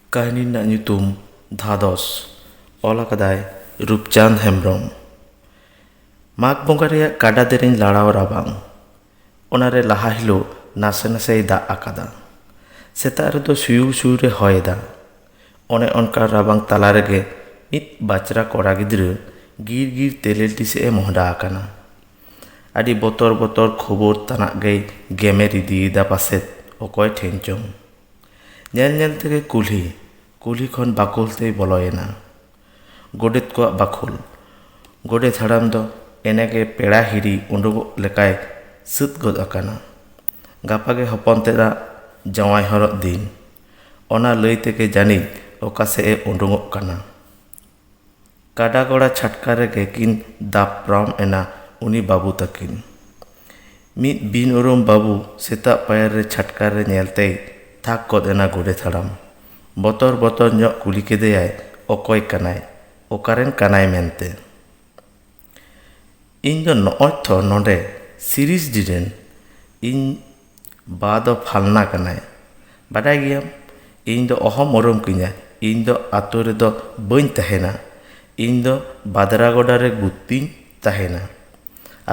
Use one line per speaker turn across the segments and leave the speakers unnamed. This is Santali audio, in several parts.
ᱠᱟᱹᱦᱱᱤ ᱨᱮᱱᱟᱜ ᱧᱩᱛᱩᱢ ᱫᱷᱟᱫᱚᱥ ᱚᱞ ᱟᱠᱟᱫᱟᱭ ᱨᱩᱯᱪᱟᱸᱫᱽ ᱦᱮᱢᱵᱨᱚᱢ ᱢᱟᱜᱽ ᱵᱚᱸᱜᱟ ᱨᱮᱭᱟᱜ ᱠᱟᱰᱟ ᱫᱮᱨᱮᱧ ᱞᱟᱲᱟᱣ ᱨᱟᱵᱟᱝ ᱚᱱᱟᱨᱮ ᱞᱟᱦᱟ ᱦᱤᱞᱳᱜ ᱱᱟᱥᱮ ᱱᱟᱥᱮᱭ ᱫᱟᱜ ᱟᱠᱟᱫᱟ ᱥᱮᱛᱟᱜ ᱨᱮᱫᱚ ᱥᱩᱭᱩᱲ ᱥᱩᱭᱩᱲ ᱮ ᱦᱚᱭ ᱮᱫᱟ ᱚᱱᱮ ᱚᱱᱠᱟ ᱨᱟᱵᱟᱝ ᱛᱟᱞᱟ ᱨᱮᱜᱮ ᱢᱤᱫ ᱵᱟᱪᱨᱟ ᱠᱚᱲᱟ ᱜᱤᱫᱽᱨᱟᱹ ᱜᱤᱨ ᱜᱤᱨ ᱛᱮᱞᱮᱞᱴᱤ ᱥᱮᱫ ᱮ ᱢᱚᱦᱰᱟ ᱟᱠᱟᱱᱟ ᱟᱹᱰᱤ ᱵᱚᱛᱚᱨ ᱵᱚᱛᱚᱨ ᱠᱷᱚᱵᱚᱨ ᱛᱟᱱᱟᱜ ᱜᱮᱭ ᱜᱮᱢᱮᱨ ᱤᱫᱤᱭᱮᱫᱟ ᱯᱟᱥᱮᱫ ᱚᱠᱚᱭ ᱴᱷᱮᱱ ᱪᱚᱝ ᱧᱮᱞ ᱧᱮᱞ ᱛᱮᱜᱮ ᱠᱩᱞᱦᱤ ᱠᱩᱞᱦᱤ ᱠᱷᱚᱱ ᱵᱟᱠᱷᱳᱞ ᱛᱮᱭ ᱵᱚᱞᱚᱭᱮᱱᱟ ᱜᱚᱰᱮᱛ ᱠᱚᱣᱟᱜ ᱵᱟᱠᱷᱳᱞ ᱜᱚᱰᱮᱛ ᱦᱟᱲᱟᱢ ᱫᱚ ᱮᱱᱮᱜᱮ ᱯᱮᱲᱟ ᱦᱤᱨᱤ ᱩᱰᱩᱠᱚᱜ ᱞᱮᱠᱟᱭ ᱥᱟᱹᱛ ᱜᱚᱫ ᱟᱠᱟᱱᱟ ᱜᱟᱯᱟ ᱜᱮ ᱦᱚᱯᱚᱱ ᱛᱮᱫᱟᱜ ᱡᱟᱶᱟᱭ ᱦᱚᱨᱚᱜ ᱫᱤᱱ ᱚᱱᱟ ᱞᱟᱹᱭ ᱛᱮᱜᱮ ᱡᱟᱹᱱᱤᱡ ᱚᱠᱟ ᱥᱮᱫ ᱮ ᱩᱰᱩᱠᱚᱜ ᱠᱟᱱᱟ ᱠᱟᱰᱟ ᱜᱚᱲᱟ ᱪᱷᱟᱴᱠᱟ ᱨᱮᱜᱮ ᱠᱤᱱ ᱫᱟᱯᱨᱟᱢ ᱮᱱᱟ ᱩᱱᱤ ᱵᱟᱹᱵᱩ ᱛᱟᱹᱠᱤᱱ᱾ ᱢᱤᱫ ᱵᱤᱱ ᱩᱨᱩᱢ ᱵᱟᱹᱵᱩ ᱥᱮᱛᱟᱜ ᱯᱟᱭᱟᱨ ᱨᱮ ᱪᱷᱟᱴᱠᱟ ᱨᱮ ᱧᱮᱞ ᱛᱮᱭ ᱛᱷᱟᱠ ᱜᱚᱫ ᱮᱱᱟ ᱜᱚᱰᱮᱛ ᱦᱟᱲᱟᱢ᱾ ᱵᱚᱛᱚᱨ ᱵᱚᱛᱚᱨ ᱧᱚᱜ ᱠᱩᱞᱤ ᱠᱮᱫᱮᱭᱟᱭ ᱚᱠᱚᱭ ᱠᱟᱱᱟᱭ, ᱚᱠᱟᱨᱮᱱ ᱠᱟᱱᱟᱭ ᱢᱮᱱᱛᱮ᱾ ᱤᱧ ᱫᱚ ᱱᱚᱜᱼᱚᱭ ᱛᱚ ᱱᱚᱸᱰᱮ ᱥᱤᱨᱤᱥ ᱰᱤ ᱨᱮᱱ ᱤᱧ ᱵᱟ ᱫᱚ ᱯᱷᱟᱞᱱᱟ ᱠᱟᱱᱟᱭ ᱵᱟᱰᱟᱭ ᱜᱮᱭᱟᱢ ᱤᱧ ᱫᱚ ᱚᱦᱚᱢ ᱩᱨᱩᱢ ᱠᱤᱧᱟᱹ ᱤᱧ ᱫᱚ ᱟᱛᱳ ᱨᱮᱫᱚ ᱵᱟᱹᱧ ᱛᱟᱦᱮᱱᱟ ᱤᱧ ᱫᱚ ᱵᱟᱫᱽᱨᱟ ᱜᱚᱰᱟ ᱨᱮ ᱜᱩᱛᱤᱧ ᱛᱟᱦᱮᱱᱟ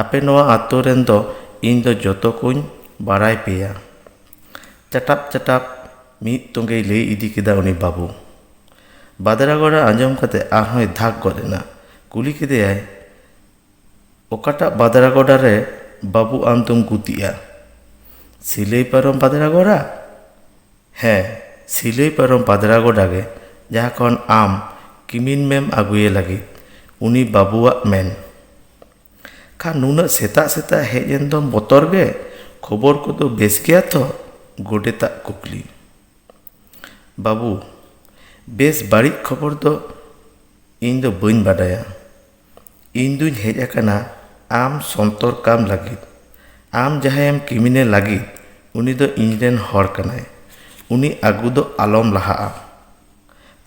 ᱟᱯᱮ ᱱᱚᱣᱟ ᱟᱛᱳ ᱨᱮᱱ ᱫᱚ ᱤᱧ ᱫᱚ ᱡᱚᱛᱚ ᱠᱚᱧ ᱵᱟᱲᱟᱭ ᱯᱮᱭᱟ ᱪᱟᱴᱟᱯ ᱪᱟᱴᱟᱯ ᱢᱤᱫ ᱛᱚᱜᱮᱭ ᱞᱟᱹᱭ ᱤᱫᱤ ᱠᱮᱫᱟ ᱩᱱᱤ ᱵᱟᱹᱵᱩ ᱵᱟᱫᱽᱨᱟ ᱜᱚᱰᱟ ᱟᱸᱡᱚᱢ ᱠᱟᱛᱮᱫ ᱟᱨᱦᱚᱸᱭ ᱫᱷᱟᱠ ᱜᱚᱫ ᱮᱱᱟ ᱠᱩᱞᱤ ᱠᱮᱫᱮᱭᱟᱭ ᱚᱠᱟᱴᱟᱜ ᱵᱟᱫᱽᱨᱟ ᱜᱚᱰᱟ ᱨᱮ ᱵᱟᱹᱵᱩ ᱟᱢ ᱫᱚᱢ ᱜᱩᱛᱤᱜᱼᱟ? ᱥᱤᱞᱟᱹᱭ ᱯᱟᱨᱚᱢ ᱵᱟᱫᱽᱨᱟ ᱜᱚᱰᱟ? ᱦᱮᱸ, ᱥᱤᱞᱟᱹᱭ ᱯᱟᱨᱚᱢ ᱵᱟᱫᱽᱨᱟ ᱜᱚᱰᱟ ᱜᱮ ᱡᱟᱦᱟᱸ ᱠᱷᱚᱱ ᱟᱢ ᱠᱤᱢᱤᱱ ᱢᱮᱢ ᱟᱹᱜᱩᱭᱮ ᱞᱟᱹᱜᱤᱫ ᱩᱱᱤ ᱵᱟᱹᱵᱩᱣᱟᱜ ᱢᱮᱱ᱾ ᱠᱷᱟᱱ ᱱᱩᱱᱟᱹᱜ ᱥᱮᱛᱟᱜ ᱥᱮᱛᱟᱜ ᱦᱮᱡ ᱮᱱ ᱫᱚᱢ ᱵᱚᱛᱚᱨ ᱜᱮ? ᱠᱷᱚᱵᱚᱨ ᱠᱚᱫᱚ ᱵᱮᱥ ᱜᱮᱭᱟ ᱛᱚ? ᱜᱚᱰᱮᱛᱟᱜ ᱠᱩᱠᱞᱤ᱾ ᱵᱟᱹᱵᱩ, ᱵᱮᱥ ᱵᱟᱹᱲᱤᱡ ᱠᱷᱚᱵᱚᱨ ᱫᱚ ᱤᱧ ᱫᱚ ᱵᱟᱹᱧ ᱵᱟᱰᱟᱭᱟ᱾ ᱤᱧ ᱫᱩᱧ ᱦᱮᱡ ᱟᱠᱟᱱᱟ ᱟᱢ ᱥᱚᱱᱛᱚᱨ ᱠᱟᱢ ᱞᱟᱹᱜᱤᱫ ᱟᱢ ᱡᱟᱦᱟᱸᱭᱮᱢ ᱠᱤᱢᱤᱱᱮ ᱞᱟᱹᱜᱤᱫ ᱩᱱᱤ ᱫᱚ ᱤᱧ ᱨᱮᱱ ᱦᱚᱲ ᱠᱟᱱᱟᱭ ᱩᱱᱤ ᱟᱹᱜᱩ ᱫᱚ ᱟᱞᱚᱢ ᱞᱟᱦᱟᱜᱼᱟ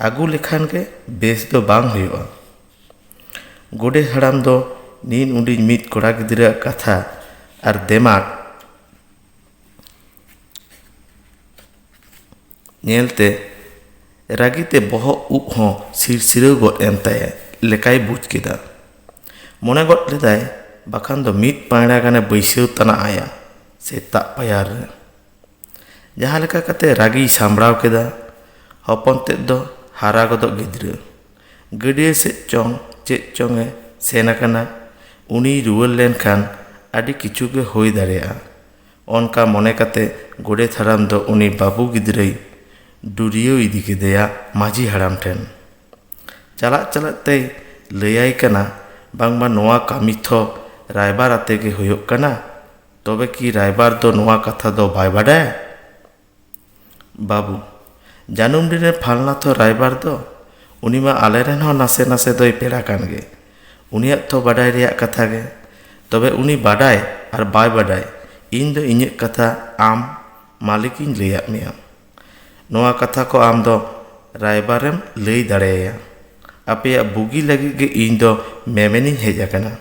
ᱟᱹᱜᱩ ᱞᱮᱠᱷᱟᱱ ᱜᱮ ᱵᱮᱥ ᱫᱚ ᱵᱟᱝ ᱦᱩᱭᱩᱜᱼᱟ ᱜᱚᱰᱮᱛ ᱦᱟᱲᱟᱢ ᱫᱚ ᱱᱤᱱ ᱩᱰᱤᱡ ᱢᱤᱫ ᱠᱚᱲᱟ ᱜᱤᱫᱽᱨᱟᱹᱣᱟᱜ ᱠᱟᱛᱷᱟ ᱟᱨ ᱫᱮᱢᱟᱜᱽ ᱧᱮᱞᱛᱮ ᱨᱟᱹᱜᱤ ᱛᱮ ᱵᱚᱦᱚᱜ ᱩᱵ ᱦᱚᱸ ᱥᱤᱨᱥᱤᱨᱟᱹᱣ ᱜᱚᱫ ᱮᱱ ᱛᱟᱭᱟ ᱞᱮᱠᱟᱭ ᱵᱩᱡᱽ ᱠᱮᱫᱟ ᱢᱚᱱᱮ ᱜᱚᱫ ᱞᱮᱫᱟᱭ ᱵᱟᱠᱷᱟᱱ ᱫᱚ ᱢᱤᱫ ᱯᱟᱸᱭᱲᱟ ᱜᱟᱱᱮ ᱵᱟᱹᱭᱥᱟᱹᱣ ᱛᱟᱱᱟᱜ ᱟᱭᱟ ᱥᱮᱛᱟᱜ ᱯᱟᱭᱟᱨ ᱨᱮ ᱡᱟᱦᱟᱸ ᱞᱮᱠᱟ ᱠᱟᱛᱮ ᱨᱟᱹᱜᱤᱭ ᱥᱟᱢᱵᱽᱲᱟᱣ ᱠᱮᱫᱟ ᱦᱚᱯᱚᱱ ᱛᱮᱫ ᱫᱚ ᱦᱟᱨᱟ ᱜᱚᱫᱚᱜ ᱜᱤᱫᱽᱨᱟᱹ ᱜᱟᱹᱰᱭᱟᱹ ᱥᱮᱫ ᱪᱚᱝ ᱪᱮᱫ ᱪᱚᱝ ᱮ ᱥᱮᱱ ᱟᱠᱟᱱᱟ ᱩᱱᱤᱭ ᱨᱩᱣᱟᱹᱲ ᱞᱮᱱᱠᱷᱟᱱ ᱟᱹᱰᱤ ᱠᱤᱪᱷᱩ ᱜᱮ ᱦᱩᱭ ᱫᱟᱲᱮᱭᱟᱜᱼᱟ ᱚᱱᱠᱟ ᱢᱚᱱᱮ ᱠᱟᱛᱮ ᱜᱚᱰᱮᱛ ᱦᱟᱲᱟᱢ ᱫᱚ ᱩᱱᱤ ᱵᱟᱹᱵᱩ ᱜᱤᱫᱽᱨᱟᱹᱭ ᱰᱩᱨᱭᱟᱹᱣ ᱤᱫᱤ ᱠᱮᱫᱮᱭᱟ ᱢᱟᱹᱡᱷᱤ ᱦᱟᱲᱟᱢ ᱴᱷᱮᱱ ᱪᱟᱞᱟᱜ ᱪᱟᱞᱟᱜ ᱛᱮᱭ ᱞᱟᱹᱭᱟᱭ ᱠᱟᱱᱟ ᱵᱟᱝᱢᱟ ᱱᱚᱣᱟ ᱠᱟᱹᱢᱤ ᱛᱷᱚ ᱨᱟᱭᱵᱟᱨ ᱟᱛᱮ ᱜᱮ ᱦᱩᱭᱩᱜ ᱠᱟᱱᱟ ᱛᱚᱵᱮ ᱠᱤ ᱨᱟᱭᱵᱟᱨ ᱫᱚ ᱱᱚᱣᱟ ᱠᱟᱛᱷᱟ ᱫᱚ ᱵᱟᱭ ᱵᱟᱰᱟᱭᱟ ᱵᱟᱹᱵᱩ ᱡᱟᱹᱱᱩᱢ ᱰᱤ ᱨᱮ ᱯᱷᱟᱞᱱᱟᱛᱷᱚ ᱨᱟᱭᱵᱟᱨ ᱫᱚ ᱩᱱᱤ ᱢᱟ ᱟᱞᱮ ᱨᱮᱱ ᱦᱚᱸ ᱱᱟᱥᱮ ᱱᱟᱥᱮ ᱫᱚᱭ ᱯᱮᱲᱟ ᱠᱟᱱ ᱜᱮ ᱩᱱᱤᱭᱟᱜ ᱛᱚ ᱵᱟᱰᱟᱭ ᱨᱮᱭᱟᱜ ᱠᱟᱛᱷᱟ ᱜᱮ ᱛᱚᱵᱮ ᱩᱱᱤ ᱵᱟᱰᱟᱭ ᱟᱨ ᱵᱟᱭ ᱵᱟᱰᱟᱭ ᱤᱧ ᱫᱚ ᱤᱧᱟᱹᱜ ᱠᱟᱛᱷᱟ ᱟᱢ ᱢᱟᱹᱞᱤᱠ ᱤᱧ ᱞᱟᱹᱭᱟᱫ ᱢᱮᱭᱟ ᱱᱚᱣᱟ ᱠᱟᱛᱷᱟ ᱠᱚ ᱟᱢ ᱫᱚ ᱨᱟᱭᱵᱟᱨᱮᱢ ᱞᱟᱹᱭ ᱫᱟᱲᱮ ᱟᱭᱟ ᱟᱯᱮᱭᱟᱜ ᱵᱩᱜᱤ ᱞᱟᱹᱜᱤᱫ ᱜᱮ ᱤᱧ ᱫᱚ ᱢᱮᱢᱮᱱ ᱤᱧ ᱦᱮᱡ ᱟᱠᱟᱱᱟ